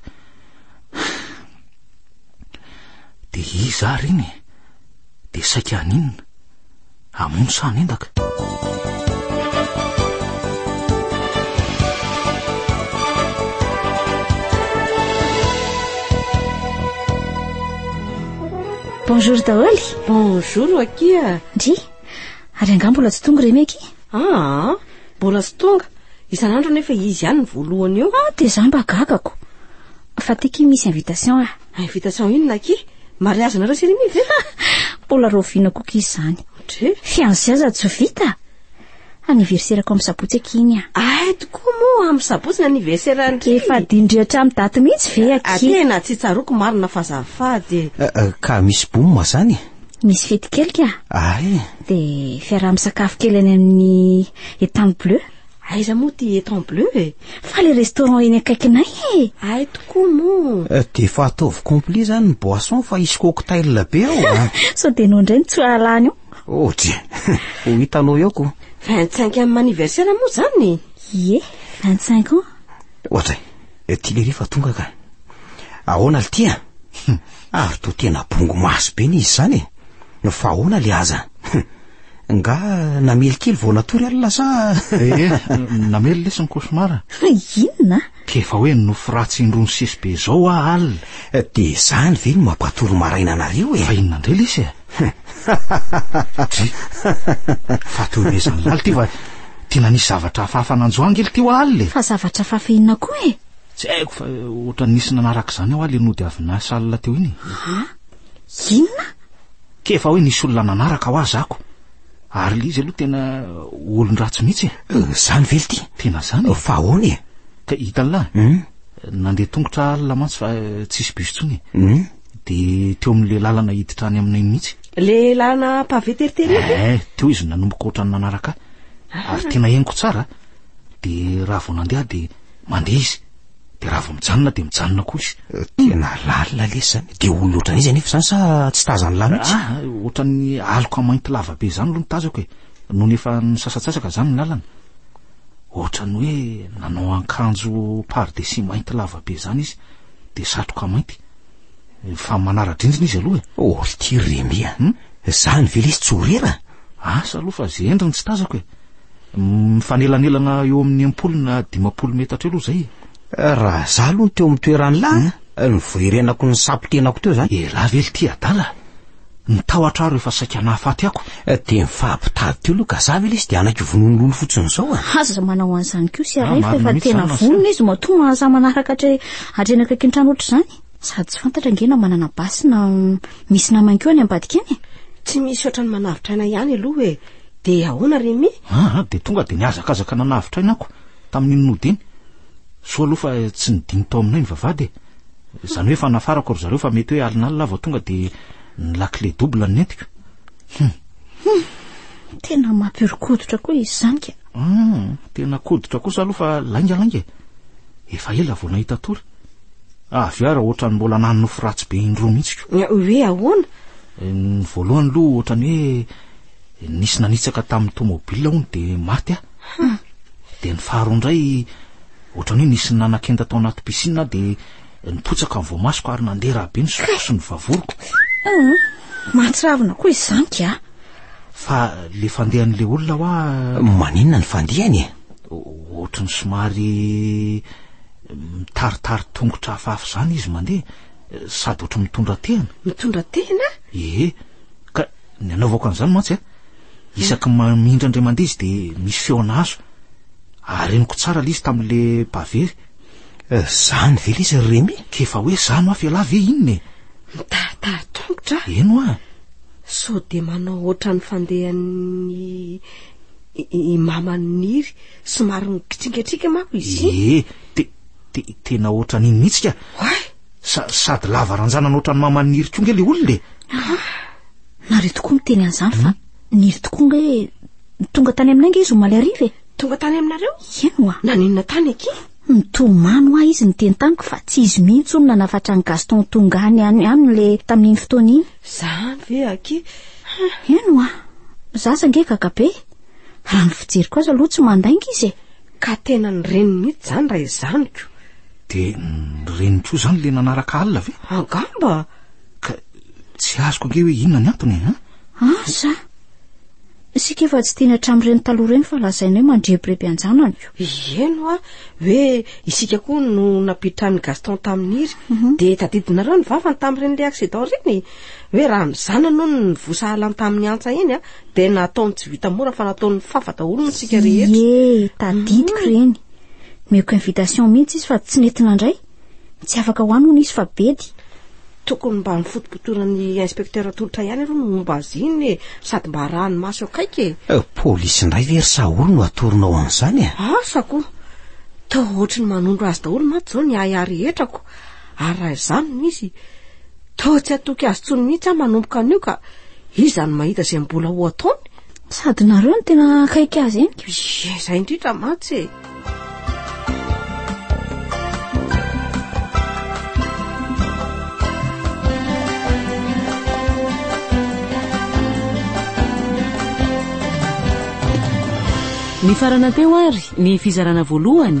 Dia iza ary iny? Dia saika aninona? Hamono sa hanendaka? Bonjour daholo. Bonjour Akia. Ndry. Ary angaha mbola tsy tonga ireny Akia? Ah, mbola tsy tonga. Isan'andro nefa izy ihany ny voalohany eo. Ah, dia za mba gagako. Fa ty Akia misy invitation ah. Invitation inona aky? Mariage nareo sy Rimi ve? Mbola rahoviana koa aky izany. Dre. Fiancé aza tsy vita. Anniversaire-ko amin'ny sabotsy aky iny a. Ahay tokoa moa amin'ny sabotsy ny anniversaire an-dry. Efa adin-dry hatramin'ny daty mihitsy ve aky? A tena tsy tsaroako marina fa azafady. Eh, eh, ka misy boum zany? Misy fety kely ka. Ay. Dia fiaraha-misakafo kely any amin'ny Etang Bleu. Aiza moa ty étang bleu e? Fa le restaurant eny akaikinay e! Ay tokoa moa! Eh, dia efa ataovy complet izany ny boisson fa hisy cocktail be ao a! Ah. Sao dia noho indray ny tsoahalany io? Oh dia, ho hitanao eo ko! 25 amin'ny anniversaire moa izany? Ie, 25 ans! Ohatra, eh, ty lery fa tonga ka! Ahoana le tia? Ary toa tena bongo maso be ny izy izany e! Fa ahoana le aza? Nga namely kely vao natory alina sa Eh, namely lesy ny cauchemar. Inona? K'efa hoe nofy ratsy indroa ny sesy be izao hoa alina. Eh, de zany ve no mampatory maraina anareo e? Fa inona indray lesy e? Dry. Fa toy ny ezan'ny laly ty fa tiana nisy zavatra hafahafa nanjo angely ty hoa alina e. Fa zavatra hafahafa inona koa e? Tsy haiko fa ohatran'ny nisy nanaraka izany hoa le nody avy niasa alina teo iny e. Ha? Inona? Kay fa hoe nisy olona nanaraka ho azy ako. Ary le izy aloha tena olon-dratsy mihitsy e. Eh, zany ve lty? Tena zany e. Fa ahoana e? Ka hitanla? Hum. Nandeha tongotra alina mantsy fa eh, tsisy bus tsony e. Hum. De teo amin'le lalana hiditra any aminay mihitsy. Le lalana pavé teritery iny? Eh, teo izy nanomboka ohatrany nanaraka ahy. Ary tena henoko tsara. De raha vao nandeha aho de Mandeha izy, dia raha vao mijanona dia mijanona koa izy. Eh, tena lalina lesy zany. Dia olona ohatran'ny izy anefa zany sa tsy tazany lahy mihitsy? Ah, ohatran'ny aloka mainty lava be zany aloha ny tazako e. Nony efa nisasatsasaka zany ny lalana. Ohatran'ny hoe nanao ankanjo pardesy mainty lava be zany izy, dia satroka mainty. Fa manara-drindrina izy aloha e. Oh, ity Remy a. Hmm? Zany ve lesy tsy orera? Asa aloha fa ze endriny tsy tazako e. Mifanelanelana eo amin'ny ampolo na dimampolo metatra eo aloha zay. Eh, raha za aloha teo amin'ny toerany lahy, hmm? eh, ny voerenako ny sapo tenako teo zany. Elah ve ity adala? Ny tahotra aro efa saika nahafaty ako. Eh, dia ny fahabitady teo aloha ka za ve lesy dia anaiky vononolono fotsiny zao a. Ah? Aza manao an'izany koa sy ah, arefa efa tena vonona izy matoa mahaza manaraka hatreny akaiky ny trano ohatr'izany. Sady tsy fantatra ange na manana basy na misy namany koa any ambadika any e. Tsy misy ohatrany manavotra aina ihany aloha e. Dia ahoana ry Mi? Ah, ah, dia tonga dia nihazakazaka nanavotra aina ako tamin'iny nody iny. Soa aloha fa tsy nidino tao aminay ny vavahady e. Izany hoe efa nafarako ry zareo fa mety hoe alinalina aho vao tonga dia ny lakile double nentiko. Hum. Hum. Tena mampihorokoditra koa izy izany ka. Hum, tena koditra kosa aloha fa laingalainga e. Efa ela vao nahita tory. Avy ara ohatrany mbola nanonofy ratsy be indroa mihitsy ko. Hoe ahoana? Eh, ny voalohany aloha ohatrany hoe eh, nisy nanitsaka tamin'ny tomobile hono dia maty ah. Hmm. Dia ny faharoa indray ohatrany hoe nisy nanakenda tao anaty piscine dia nipotsaka ny voamasoko ary nandeha raha be ny soko sy ny vavoriko. Hmm. Mahatsiravina koa izany ka. Fa le fandehan'le olona hoa maninona ny fandehany e? Ohatrany somary Mitaritary tongotra hafahafa izany izy mandeha, sady ohatry mitondra tehana. Mitondra tehana? Ee, ka ny anaovako an'izany mantsy a, isaky mamindra indray mandeha izy dia misy feona azo. Areniko tsara ilay izy tamin'ilay bavery. Izany ve ilay izy ry Remy? Ka efa hoe izany ho'aho fa ialahy ve inona e? Mitaritary tongotra aho. Eny ho'a. Sao dia manao ohatran'ny fandehan'ny i maman'i Niry. Somary mikitrikatrika manko izy. Ee, te, te, tena ohatran'iny mihitsy ka. Oay! Sa, sady lava ranjana ohatran'ny maman'i Niry koa nge le olona e. Ah, nareo tokoa miteny an'izany fa hmm? Niry tokoa nge tonga tany aminay nge izy omaly hariva e. Tonga tany aminareo? Ieny oa. Nanenina tany aky? Nitomany hoa izy niteny tamiko fa tsy izy mihitsy hono nanafatra an'i Gaston tonga any any aminy le tamin'iny fotoana iny. Zany ve aky? Ieny oa. Za sange gaga be. Raha ny fijeriko azy aloha tsy mandainga izy e. Ka tena ny reniny mihitsy izany raha izany ko. Dia ny reniny koa izany le nanaraka alina ve? Angamba. Ka tsy azoko ange hoe inona ny antony e. Asa! Isika efa tsy tiana hatramin'ireny taloha ireny fa lazaina hoe mandrebireby an-janany ko. Iheno a, hoe isika koa no nampitran'i Gaston tamin'iry, mhm. dia tadidinareo ny vavany tamin'ireny le accident ireny, hoe raha ny zanany hono no vosahalan tamin'ny antsa iny a, Dia nataony tsy vita mora fa nataony fafa daholo ny tsika rehetra. Iee, tadidiko ireny. Mm. Meko invitation mihitsy izy fa tsy nety nandray. Tsy afaka ho any hono izy fa bedy. Tokony mba nifotopotoran'ny inspecteur tolotra ihany aloha ny momba azy iny e, sady mba arahany maso akaiky e. Eh, polisy indray ve ry Saholy no atoronao an'izany e? Asa koa. Toa ohatry ny manondro azy daholo mantsy izao ny ahy ahy rehetra ko. ary raha izany no izy, toa tsy hatoky azy intsony mihitsy aho manomboka anio ka iza no mahita izay mbola ho ataony? Sady nareo no tena akaiky azy eny ka. Ie, izay indrindra mantsy e! Nifarana teo ary ny fizarana voalohany.